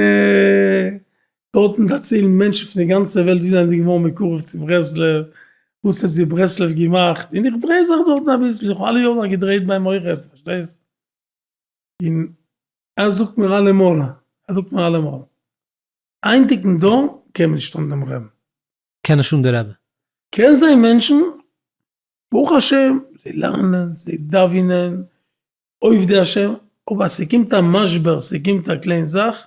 דארטן דערציילן מענטשן פון די גאנצע וועלט ווי זיי זענען געווארן מקורב צו ברסלב, וואס האט זיי ברסלב געמאכט, און איך דריי זיך דארטן אביסל, איך האב אלע יארן זיך געדרייט ביים מויכער'ס, פארשטייסט? און ער זאגט מיר אלעמאל, ער זאגט מיר אלעמאל, היינטיגן דור קען נישט אן דעם רעבע. קען נישט אן די רעבע. קען זיין מענטשן, ברוך השם, זיי לערנען, זיי דאווענען, עובדי השם, אבער אז ס'קומט א משבר, ס'קומט א קליין זאך,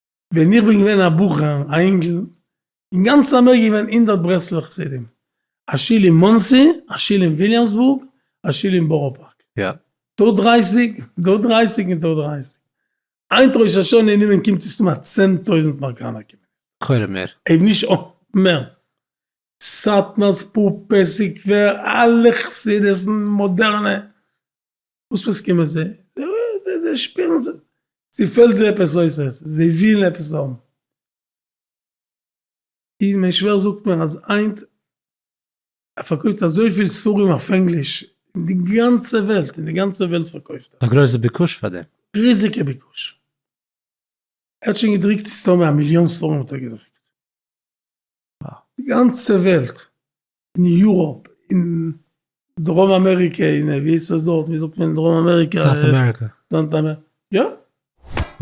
ווען איך בין געווען א בחור, א אינגל, אין גאנץ אמעריקע געווען הונדערט ברסלב'ע חסידים, א שול אין מאנסי, א שול אין וויליאמסבורג, א שול אין בארא פארק. דא דרייסיג, דא דרייסיג און דא דרייסיג. היינט ראש השנה אין אומן קומט עס אן א צען טויזנט אמעריקאנער קומען עס. לכאורה מער. אויב נישט מער. סאטמאר, ספופער, סקווער, אלע חסידות'ן, מאדערנע. וואס פאסקומען זיי? זיי שפירן זיך, ס'פעלט זיי עפעס אויס, זיי ווילן עפעס האבן. און מיין שווער זאגט מיר אז היינט ער פארקויפט אזויפיל ספרים אויף ענגליש אין די גאנצע וועלט, אין די גאנצע וועלט פארקויפט ער. א גרויסע ביקוש פאר דעם. ריזיגע ביקוש. ער האט שוין געדרוקט מסתמא א מיליאן ספרים האט ער געדרוקט. די גאנצע וועלט אין יוראפ, אין דרום אמעריקע, אין ווי איז עס דארט, ווי זאגט מען אין דרום אמעריקע? סאוט אמעריקע. יא.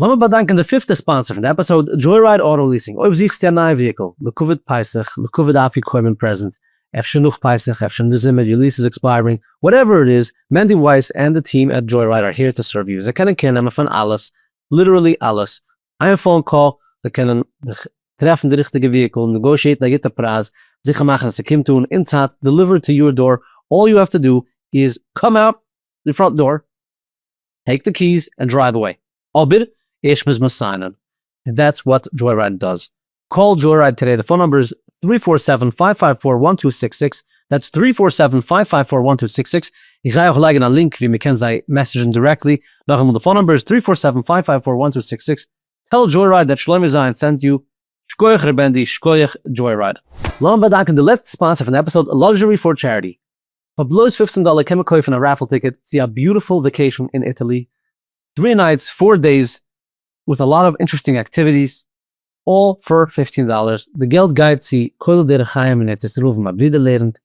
לאמיר באדאנקען די פיפטע ספאנסער פון די עפיסאוד, דזשויראיד אוטא ליעסינג, אויב זוכסטו א נייע וויהיקל לכבוד פסח, לכבוד אפיקומן פרעזענט, אפשר נאך פסח, אפשר אין די זומער, יור ליעס איז עקספייערינג, וואטעווער איט איז, מענדי ווייס ענד די טיעם עט דזשויראיד אר העיר טו סערוו יו, זיי קענען קעיר נעמען פון אלעס, ליטערלי אלעס, איין פאון קאל זיי קענען דיך טרעפן די ריכטיגע וויהיקל, נעגאושיעטן א גוטע פרייז, זיכער מאכן אז ס'קומט אן אין צייט, דעליווערד טו יור דאר, אלל יו העוו טו דא איז קאם אוט די פראנט דאר, טעיק די קי'ס, און דרייוו אוועי, אבער ערשט מוז מען סיינען, און דעטס וואט דזשוי רייד דאז, קאל דזשוירייד טודעי די פאון נומבער איז טרי פאר סעווען פייוו פייוו פאר וואן טו סיקס סיקס דעטס טרי פאר סעווען פייוו פייוו פאר וואן טו סיקס סיקס איך גיי אויך לייגען א לינק ווי מען קען זיי מעסעדזשען דירעקטלי נאכאמאל די פאון נומבער איז טרי פאר סעווען פייוו פייוו פאר וואן טו סיקס סיקס טעל דזשוירייד דעט שלומי זיין סענט יו שכוח ר' בענדי שכוח דזשוירייד. לאמיר באדאנקען די לעצטע ספאנסער פון די עפיסאד לאקזשערי פאר טשעריטי פאר בלויז פֿופֿצן דאלער קען מען קויפן א רעפעל טיקעט צו א ביוטיפול וואקעישן אין איטעלי טרי נייטס פאר דעיס וויט א לאט אוו אינטרעסטינג אקטיוויטיס אלל פאר פיפטין דאלערס, די געלט גייט צו כולל דרך חיים אין ארץ ישראל וואו מיין ברודער לערנט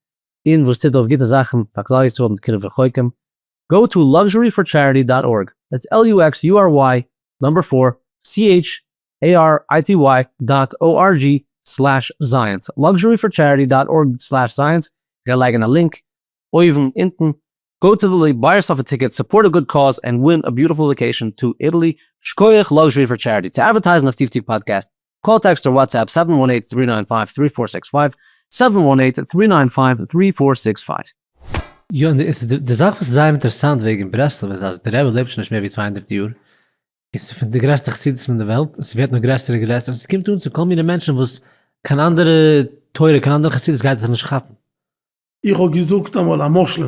און וואס טוט אויף גוטע זאכן פאר כלל ישראל מיט קרוב רחוקים, גאו טו לאקזשורי פאר טשעריטי דאט ארג, דעטס על יו עקס יו אר וויי נומבער פאר סי עיטש עי אר איי טי וויי דאט או אר דזשי סלעש זייענס, לאקזשורי פאר טשעריטי דאט ארג סלעש זייענס, איך גיי לייגן א לינק אויבן אונטן גאו טו איטעלי, ביי יורסעלף א טיקעט, סופארט א גוד קאוז, ענד ווין א ביוטיפול וואקעישאן טו איטעלי, שקויעך לאקזשערי פאר טשעריטי. צו אדווערטייזן אויף טיף טיף פאדקעסט, קאל טעקסט אר וואטסעפפ זיבן וואן אייט טרי ניין פייוו טרי פאר זעקס פייוו, זיבן וואן אייט טרי ניין פייוו טרי פאר זעקס פייוו. יא און דאס איז די זאך וואס איז זייער אינטערעסאנט וועגן ברסלב איז אז די רבי לעבט שוין נישט מער ווי צוויי הונדערט יאר און ס'איז פון די גרעסטע חסידות'ן אין די וועלט און ס'ווערט נאר גרעסער און גרעסער און ס'קומט אן צו כל מיני מענטשן וואס קיין אנדערע תורה קיין אנדערע חסידות גייט עס נישט כאפן. איך האב געזאגט אמאל א משל,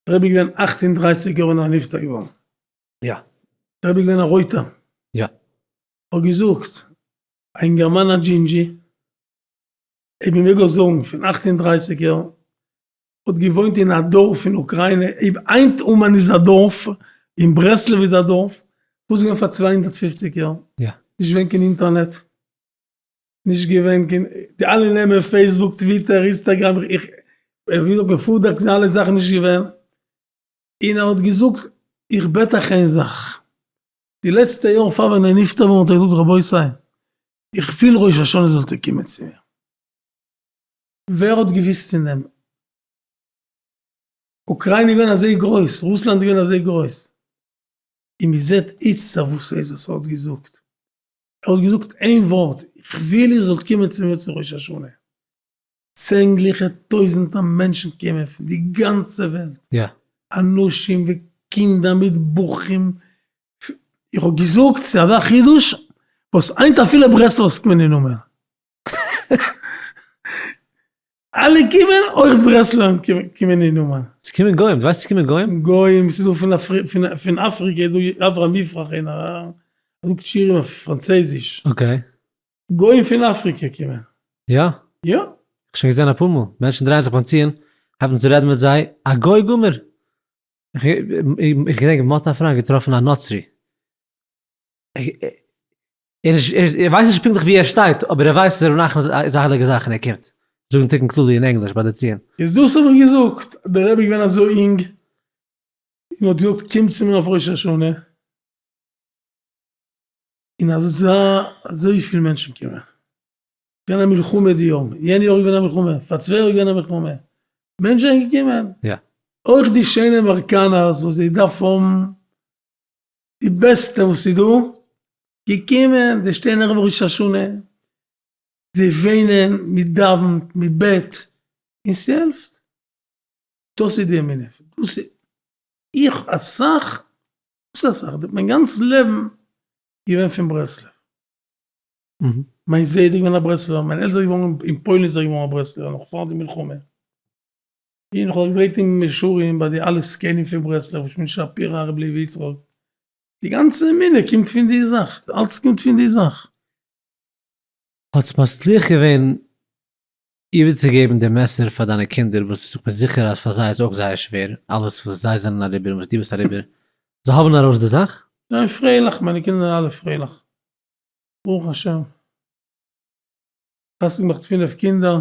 דער רבי איז געווען אַכט און דרײַסיק יאר ווען ער איז נפטר געווארן, יא, דער רבי איז געווען א רויטער, יא, איך האב געזאגט א אינגערמאן א דזשינדזשי, אויב מען מעג אויך זאגן, פון אַכט און דרײַסיק יאר, האט געוואוינט אין א דארף אין אוקריינע, אויב היינט אומאן איז א דארף, און ברסלב איז א דארף, וואס איז געווען פאר צוויי הונדערט פֿופֿציק יאר? יא. נישט געווען קיין אינטערנעט. נישט געווען קיין, די אלע נעמען פעיסבוק טוויטער אינסטערגרעם איך וויל זאגן פארדעקט זיי אלע זאכן נישט געווען, און ער האט געזאגט איך בעט אייך איין זאך, די לעצטע יאר פאר ווען ער איז נפטר געווארן האט ער געזאגט רבותי איך וויל ראש השנה זאלט איר קומען צו מיר, ווער האט געוויסט פון דעם, אוקריינע איז געווען אזוי גרויס, רוסלאנד איז געווען אזוי גרויס, און מען זעט איצטער וואס עזות האט געזאגט, ער האט געזאגט איין ווארט, איך וויל איר זאלט קומען צו מיר צו ראש השנה. צענדליכע טויזענטער מענטשן קומען פון די גאנצע וועלט, אנשים וקינדער מיט בחורים, איך האב געזאגט ס'איז אזא חידוש וואס היינט אפילו ברסלב'ס קומען אין אומאן. אלע קומען, אויך די ברסלב'ן קומען אין אומאן. ס'קומען גוים, די ווייסט ס'קומען גוים? גוים, ס'איז דא פון אפריקע איז דא אברהם יפרח אין א, ער זאגט שירים אויף פראנצויזיש. אקעי. גוים פון אפריקע קומען. יא? יא. שוין געזען אפאר מאל, מענטשן דרייען זיך ביים ציון, הייבט אן צו רעדן מיט זיי, א גוי גמור! איך געדענק מ'האט אפילו געטראפן א נוצרי. און איך ווייס נישט פונקטליך וואו ער שטייט, אבער איך ווייס אז ר' נחמן איז א הייליגע זאך און ער קומט זאגן תיקון כללי אין ענגליש ביי די ציון. איז דאס האב איך געזאגט, אז דער רבי איז געווען אזוי אינג, און מען האט געזאגט קום צו מיר אויף ראש השנה, און אז עס זאל אזויפיל מענטשן קומען, עס איז געווען א מלחמה די יארן, יענע יאר איז געווען א מלחמה, פאר צוויי יאר איז געווען א מלחמה, מענטשן זענען געקומען, אויך די שיינע אמעריקאנערס וואס זיי דארפן האבן די בעסטע וואס איז דא, געקומען די שטערן ערב ראש השנה, זיי וועינען, מען דאווענט, מען בעט, און ס'העלפט, דאס איז די אמונה, דאס איז, איך אסאך, וואס אסאך, מיין גאנץ לעבן געווען פון ברסלב, מיין זיידע איז געווען א ברסלבער, מיין עלטער איז געווארן אין פוילן איז ער געווארן א ברסלבער נאך פאר די מלחמה. און איך האב געפרעגט אים מישרים ביי די אלע זקנים פון ברסלב, רבי שמעון שפירא, הרב לוי יצחק, די גאנצע אמונה קומט פון די זאך, אלץ קומט פון די זאך. האטס מצליח געווען איבערצוגעבן די מעסער פאר דיינע קינדער וואס איך בין זיכער אז פאר זיי איז אויך זייער שווער אלעס וואס זיי זענען אריבער און וואס דו ביסט אריבער, זיי האבן ארויס די זאך? זיי פרייליך, מיינע קינדער זענען אלע פרייליך, ברוך השם, איך האב פינף קינדער.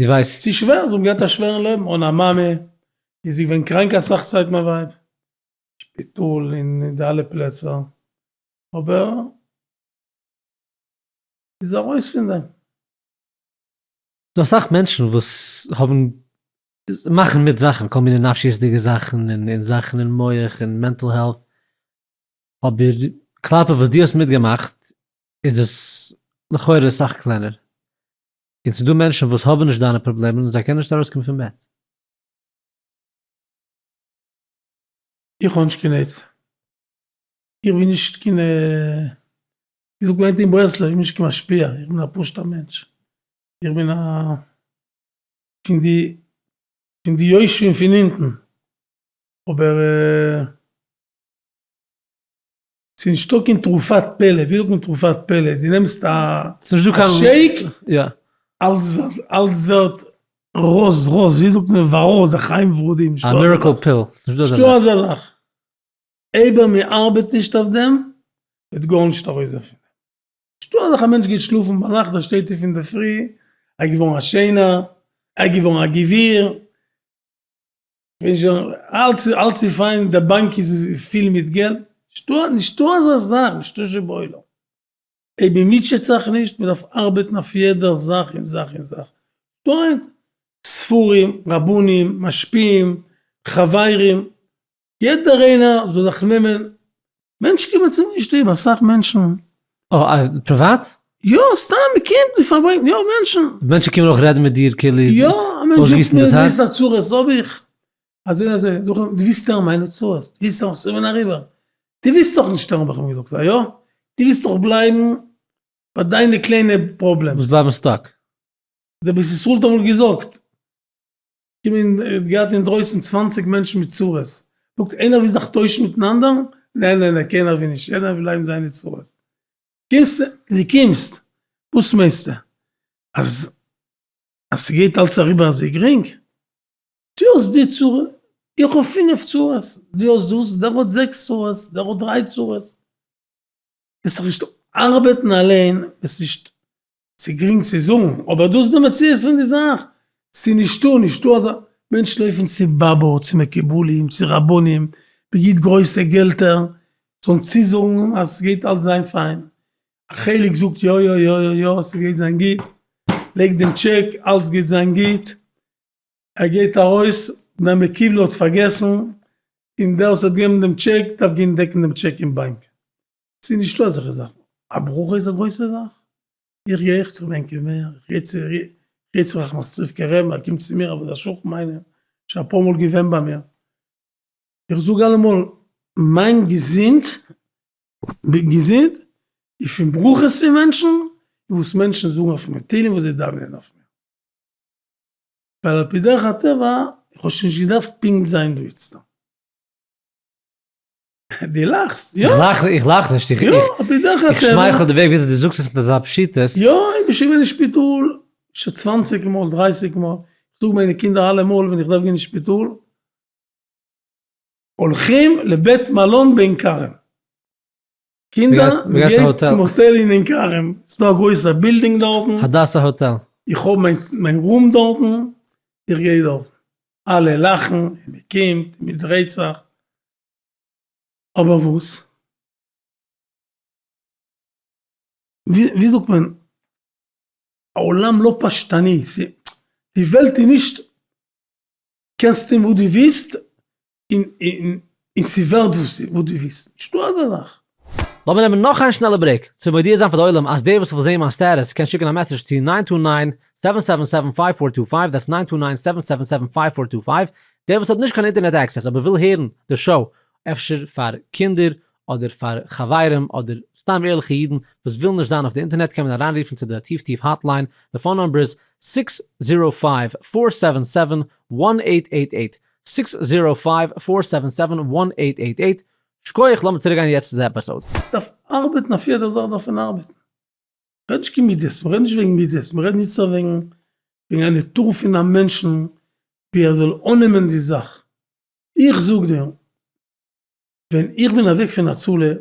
די ווייסט? ס'איז שווער, זיי האבן געהאט א שווערן לעבן אן א מאמע, איז זי געווען קראנק אסאך צייט מיין ווייב, שפיטאל און די אלע פלעצער, אבער זי איז ארויס פון דעם. ס'דא אסאך מענטשן וואס האבן, מאכן מיט זאכן, כל מיני נפשיות'דיגע זאכן און זאכן אין מח און מענטל העלט, אבער כלפי וואס דו האסט מיטגעמאכט איז עס לכאורה סאך קלענער. און ס'דא מענטשן וואס האבן נישט דיינע פראבלעמען און זיי קענען נישט ארויסקומען פון בעט. איך האב נישט קיין עצה. איך בין נישט קיין ווי זאגט מען היינט אין ברסלב, איך בין נישט קיין משפיע, איך בין א פשוט'ער מענטש. איך בין א פון די פון די יושבים פון אונטן. אבער. ס'איז נישטא קיין תרופת פלא, ווי זאגט מען תרופת פלא? די נעמסט א שעיק, אלעס ווערט ראוז ראוז, ווי זאגט מען וואראוד, א חיים ורודים, נישטא אזא זאך, איידער מען ארבעט נישט אויף דעם וועט גארנישט ארויס דערפון, נישטא אזאך א מענטש גייט שלאפן ביינאכט דער שטייט אויף אינדערפרי ער איז געווארן א שיינער, ער איז געווארן א גביר. ווען שוין אלץ איז אלץ איז פיין, די באנק איז פיל מיט געלט, נישטא נישטא אזא זאך, נישטא שבעולם, אויב מען מוטשעט זיך נישט, מען דארף ארבעטן אויף יעדע זאך און זאך און זאך, דאן ספרים, רבנים, משפיעים, חברים, יעדער איינער זאל זיך נעמען מענטשן קומען צו מיר שטוב, אסאך מענטשן. אויף פריוואט? יא, סתם מען קומט, מען פארברענגט, יא מענטשן. מענטשן קומען אויך רעדן מיט דיר כאילו. יא, א מענטש זאגט מיר דאס א צרה וואס האב איך, אזוי און אזוי, זאג איך אים, דו ווילסט הערן מיינע צרות? דו ווילסט אז ס'זאל ווען אריבער? דו ווילסט דאך נישט הערן האב איך אים געזאגט, א יא? דו ווילסט דאך בלייבן ביי דיינע קליינע פראבלעמס. וואס בלייבן סטאק. דער בית ישראל האט אמאל געזאגט. געווען האט געהאט אינדרויסן צוואַנציק מענטשן מיט צרות, זאגט איינער וויל זיך טוישן מיטן אנדערן, נע נע נע קיינער וויל נישט יעדער וויל בלייבן זיינע צרות, קומסט די קומסט וואס מיינסטו אז אז ס'גייט אלץ אריבער אזוי גרינג, דו האסט די צרה איך האב פינף צרות, דו האסט דאס דער האט זעקס צרות דער האט דריי צרות, וועסט דיך נישט ארבעטן אליין וועסט נישט ס'איז גרינג צו זאגן, אבער דאס איז די מציאות פון די זאך. ס'איז נישטא, נישטא אזא. מענטשן לויפן צו באבא, צו מקובלים, צו רבנים, מען גיט גרויסע געלטער, זאלן צוזאגן אז ס'גייט אלץ זיין פיין. א חלק זאגט יא יא יא יא יא ס'גייט זיין גוט, לייגט דעם טשעק, אלץ גייט זיין גוט. ער גייט ארויס, דער מקובל האט פארגעסן, און דער וואס האט געבן דעם טשעק דארף גיין דעקן דעם טשעק אין באנק. ס'איז נישטא אזעלכע זאכן. א ברכה איז א גרויסע זאך. איך גיי אויך צו מיין קבר, איך גיי צו איך גיי צו ראחמסטריווקער רב, ער קומט צו מיר אויף די שכן מיינער, שוין אפאר מאל געווען ביי מיר, איך זאג אלעמאל מיין געזונט, בין געזונט, איז פון ברכות פון מענטשן, און וואס מענטשן זאגן אויף מיר, תהלים וואס זיי דאווענען אויף מיר. ווייל על פי דרך הטבע, איך האב שוין נישט געדארפט פונקט זיין דא איצטער. די לאכסט, יא? איך לאך נישט, איך שמייכל די וועג וויאזוי די זאגסט עס מיט אזא פשיטות. יא, איך בין שוין געווען אין שפיטאל שוין צוואנציג מאל, דרייסיג מאל, איך זאג מיינע קינדער אלעמאל ווען איך דארף גיין אין שפיטאל, הולכים לבית מלון בעין כרם. קינדער, מען גייט צום האטעל אין עין כרם, ס'איז דא א גרויסע בילדינג דארטן. הדסה האטעל. איך האב מיין רום דארטן, איך גיי דארטן. אלע לאכן, מען קומט, מען דרייט זיך. אבער וואס? ווי זאגט מען? העולם לא פשטני, די וועלט איז נישט קענסט טון וואס דו ווילסט און ס'ווערט וואס דו ווילסט, נישטא אזא זאך. לאמיר נעמען נאך איין שנעלע ברעיק צו מודיע זיין פאר די עולם אז דער וואס וויל זעהן מיין סטעטוס קען שיקן א מעסעדזש צו ניין טו ניין, סעווען סעווען סעווען, פייוו פאר טו פייוו, דעטס ניין טו ניין, סעווען סעווען סעווען, פייוו פאר טו פייוו, דער וואס האט נישט קיין אינטערנעט עקסעס אבער וויל הערן די שאו, אפשר פאר קינדער אדער פאר חברים אדער סתם ערליכע אידן וואס ווילן נישט זיין אויף די אינטערנעט קען מען אריינרופן צו די טיף טיף האטליין, די פאון נומבער איז, סיקס זירא פייוו פאר סעווען סעווען, וואן עיט עיט עיט, סיקס זירא פייוו פאר סעווען סעווען, וואן עיט עיט עיט, שקויעך, לאמיר צוריק גיין יעצט צו די עפיסאוד. דארף ארבעטן אויף יעדע זאך דארף מען ארבעטן רעד נישט קיין מידות מ'רעד נישט וועגן מידות מ'רעד ניצט נאר וועגן וועגן א נעטור פון א מענטשן ווי ער זאל אננעמען די זאך איך זאג דיר ווען איך בין אוועק פון הצלה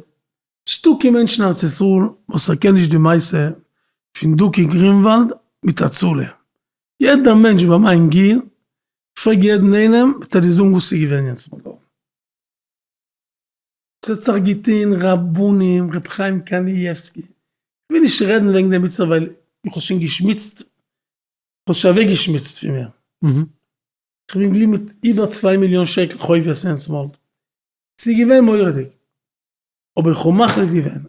נישטא קיין מענטש אין ארץ ישראל וואס ער קען נישט די מעשה פון דוקא גרינוואלד מיט הצלה יעדע מענטש ביי מיין גיל פרעג יעדן איינעם וועט ער דיר זאגן וואס ס'איז געווען יעצט. ס'האט זיך געטון רבנים, ר' חיים קאניעווסקי, כ'וויל נישט רעדן וועגן דעם איצטער ווייל איך האב שוין געשמוצט, כ'האב שוין אוועק געשמוצט פון מיר, כ'בין געבליבן מיט איבער צוויי מיליאן שקל חובות הענס מאלד, ס'איז געווען מורא'דיג, אבער איך האב מחליט געווען,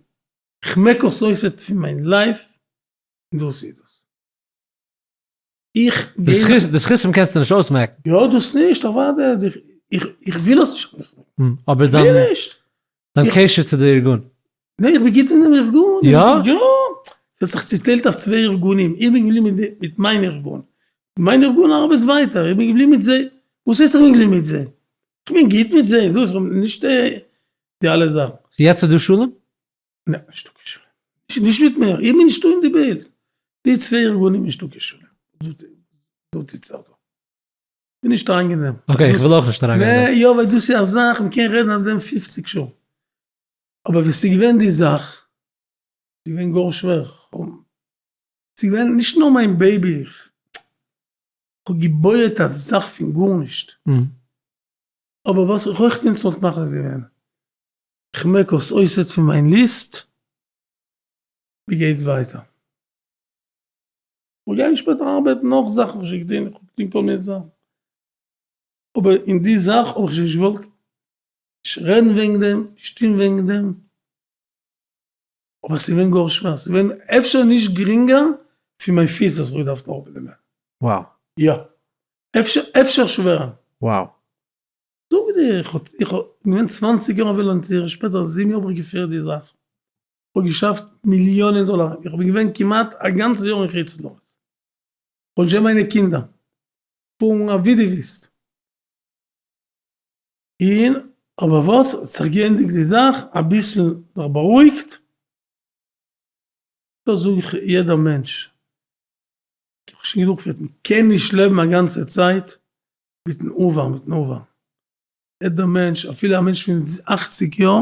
כ'מעק עס אויס יעצט פון מיין לייף, און דאס איז דאס. איך די גיי זכות די זכותים קענסטו נישט אויסמעקן יא דאס נישט אוודאי איך איך איך וויל עס נישט אויסמעקן מ, אבער איך וויל דיין נישט דיין איך- קשר צו די ארגון נע איך בין גוט אין דעם ארגון יא? יא ס'האט זיך צעטיילט אויף צוויי ארגונים איך בין געבליבן מיט די מיט מיין ארגון מיין ארגון ארבעט ווייטער איך בין געבליבן מיט זיי וואס הייסט איך בין געבליבן מיט זיי איך בין גוט מיט זיי דאס נישט די אלע זאכן. יעצט איז דא שלום? נע, נישטא קיין שלום. נישט מיט מיר, איך בין נישטא אין די בילד. די צוויי ארגונים נישטא קיין שלום. דארט איז צרות. בין נישט אריין אין דעם. אקעי, איך וויל אויך נישט אריין גיין אין דעם. נע, יא, ווייל דאס איז א זאך, מען קען רעדן אויף דעם פופציג שעה. אבער ווי ס'איז געווען די זאך, ס'איז געווען גאר שווער. ס'איז געווען נישט נאר מיין בעיבי, איך האב געבויעט א זאך פון גארנישט. אבער וואס איך אויך נישט וואלט מחליט געווען. כ'מעק אויס אויסערט פון מיין ליסט. מ'גייט ווייטער. כ'וועל גיין שפעטער ארבעטן נאך זאכן כ'האב שוין געטון, כ'האב געטון כל מיני זאכן. אבער אין די זאך האב איך שוין נישט געוואלט נישט רעדן וועגן דעם, נישט טון וועגן דעם. אבער ס'געווען גאר שווער, ס'געווען אפשר נישט גרינגער פון מיין פיס וואס כ'האב געדארפט אראפנעמען. יא. אפשר שווערער. זאג דיר, איך האב איך האב געווען צוואנציג יאר א וואלונטיר, שפעטער זיבן יאר האב איך געפירט די זאך, איך האב געשאפט מיליאנען דאלאר, איך בין געווען כמעט א גאנצע יאר אין חוץ לארץ, איך האב נישט געהאט מיינע קינדער, פארן אווי דו ווילסט, און אבער וואס, האט זיך געענדיגט די זאך, אביסל זיך בארואיגט, דאס זאג איך יעדע מענטש, איך האב שוין גענוג געפירט, מען קען נישט לעבן א גאנצע צייט מיטן עבר, מיטן עבר. יעדער מענטש, אפילו א מענטש פון אכציג יאר,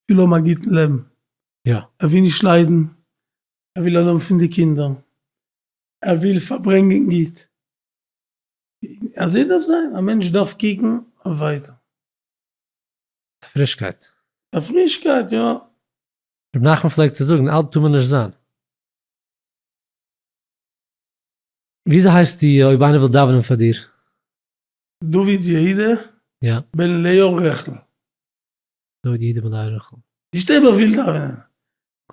וויל האבן א גוטן לעבן. יא. ער וויל נישט ליידן, ער וויל אנהויבן פון די קינדער, ער וויל פארברענגען גוט. אזוי דארף זיין, א מענטש דארף קוקן אויף ווייטער. א פרישקייט. א פרישקייט, יא. ר' נחמן פלעגט צו זאגן, אלט טאר מען נישט זיין. וויאזוי הייסט די אויב איינער וויל דאווענען פאר דיר? דוד יהודה יא. בן לאה רחל. דוד יהודה בן לאה רחל. די שטערבער וויל דאווענען.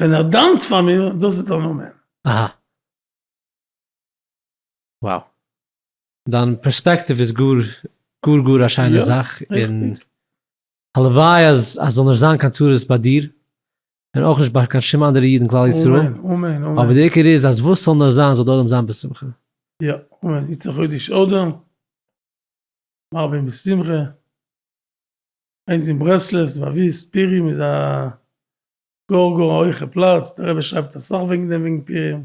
ווען ער דאוונט פאר מיר, דאס איז דער נאמען. אהא. Wow. דיין פערספעקטיוו איז גאר גאר גאר א שיינער זאך, און הלוואי אז עס זאל נישט זיין קיין צרות ביי דיר, און אויך נישט ביי קיין שום אנדערע איד אין כלל ישראל. אמן, אמן, אמן. אבער דער עיקר איז אז וואס ס'זאל נאר זיין זאל די עולם זיין בשמחה. יא, אמן. יצא חודש אדר, מרבין בשמחה. איינס אין ברסלב, זבאבי, ספירים איז א גאר גאר א הויכע פלאץ, דער רבי שרייבט אסאך וועגן דעם וועגן פירים.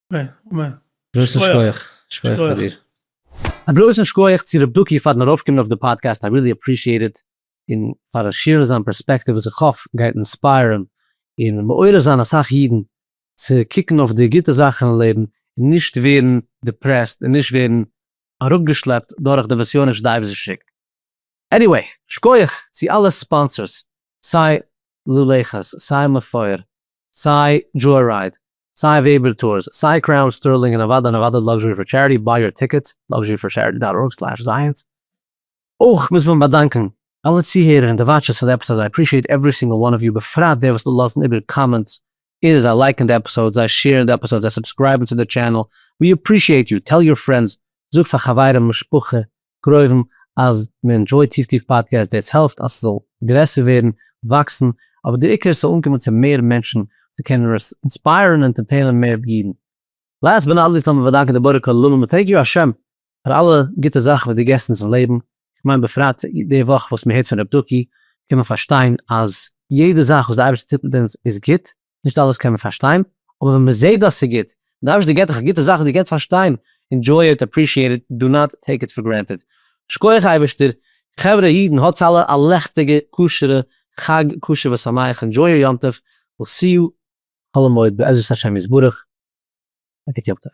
גרויסן שכוח שכוח פאר דיר. א גרויסן שכוח צו רב דוקי פארן ארויפקומען אויף די פאדקעסט איי רילי אפרישיעט איט, און פארן שעירן זיין פערספעקטיוו וואס איך האף גייט אינספייערן און מעורר זיין אסאך אידן צו קוקן אויף די גוטע זאכן אין לעבן און נישט ווערן דיפרעסט און נישט ווערן אראפגעשלעפט דורך די נסיונות וואס די אייבערשטער שיקט. עניוועי, שכוח צו אלע ספאנסערס סיי לולעכעס סיי מפואר סיי דזשוי רייד, סיי וועבער טורס, סיי קראון, סטערלינג און נעוואדע נעוואדע לאקזשערי פאר טשעריטי, ביי יור טיקעט, לאקזשערי פאר טשעריטי דאט ארג סלעש זייענס. אויך מוז מען באדאנקען אלע צוהערער און די וואטשערס פאר די עפיסאדס, איי עפרישיעט עוורי סינגל וואן אוו יו בפרט די וואס לאזן איבער קאמענטס, אידער זיי לייקן די עפיסאדס, זיי שעירן די עפיסאדס, זיי סובסקרייבן צו די טשענעל, ווי עפרישיעט יו, טעל יור פרענדס, זאג פאר חברים משפחה פרואוון אז מען ענדשויט טיף טיף פאדקעסט, דאס העלפט אז ס'זאל גרעסער ווערן, וואקסן, אבער דער עיקר ס'זאל אנקומען צו מער מענטשן, צו קענען אינספייערן און ענטערטעינען מער אידן. לאסט באט נאט ליסט לאמיר באדאנקען די בורא כל עולמים און טענק יו השם פאר אלע גוטע זאכן וואס דו געסט אונז אין לעבן, איך מיין בפרט די וואך וואס מען הערט פון רב דוקי קען מען פארשטיין אז יעדע זאך וואס די אייבערשטער טוט מיט אונז איז גוט, נישט אלעס קען מען פארשטיין, אבער ווען מען זעט אז ס'איז גוט, און די אייבערשטער געבט דיך גוטע זאכן, דו קענסט פארשטיין, ענדזשוי איט, אפרישיעט איט, דא נאט טעיק איט פאר גרענטעד. שקויעך אייבערשטער, חברה אידן האטס אלע א לעכטיגע כשר'ע חג כשר ושמח, ענדזשוי יור יום טוב, וויל סי יו חול המועד בעזרת השם יתברך, א גוט יום טוב.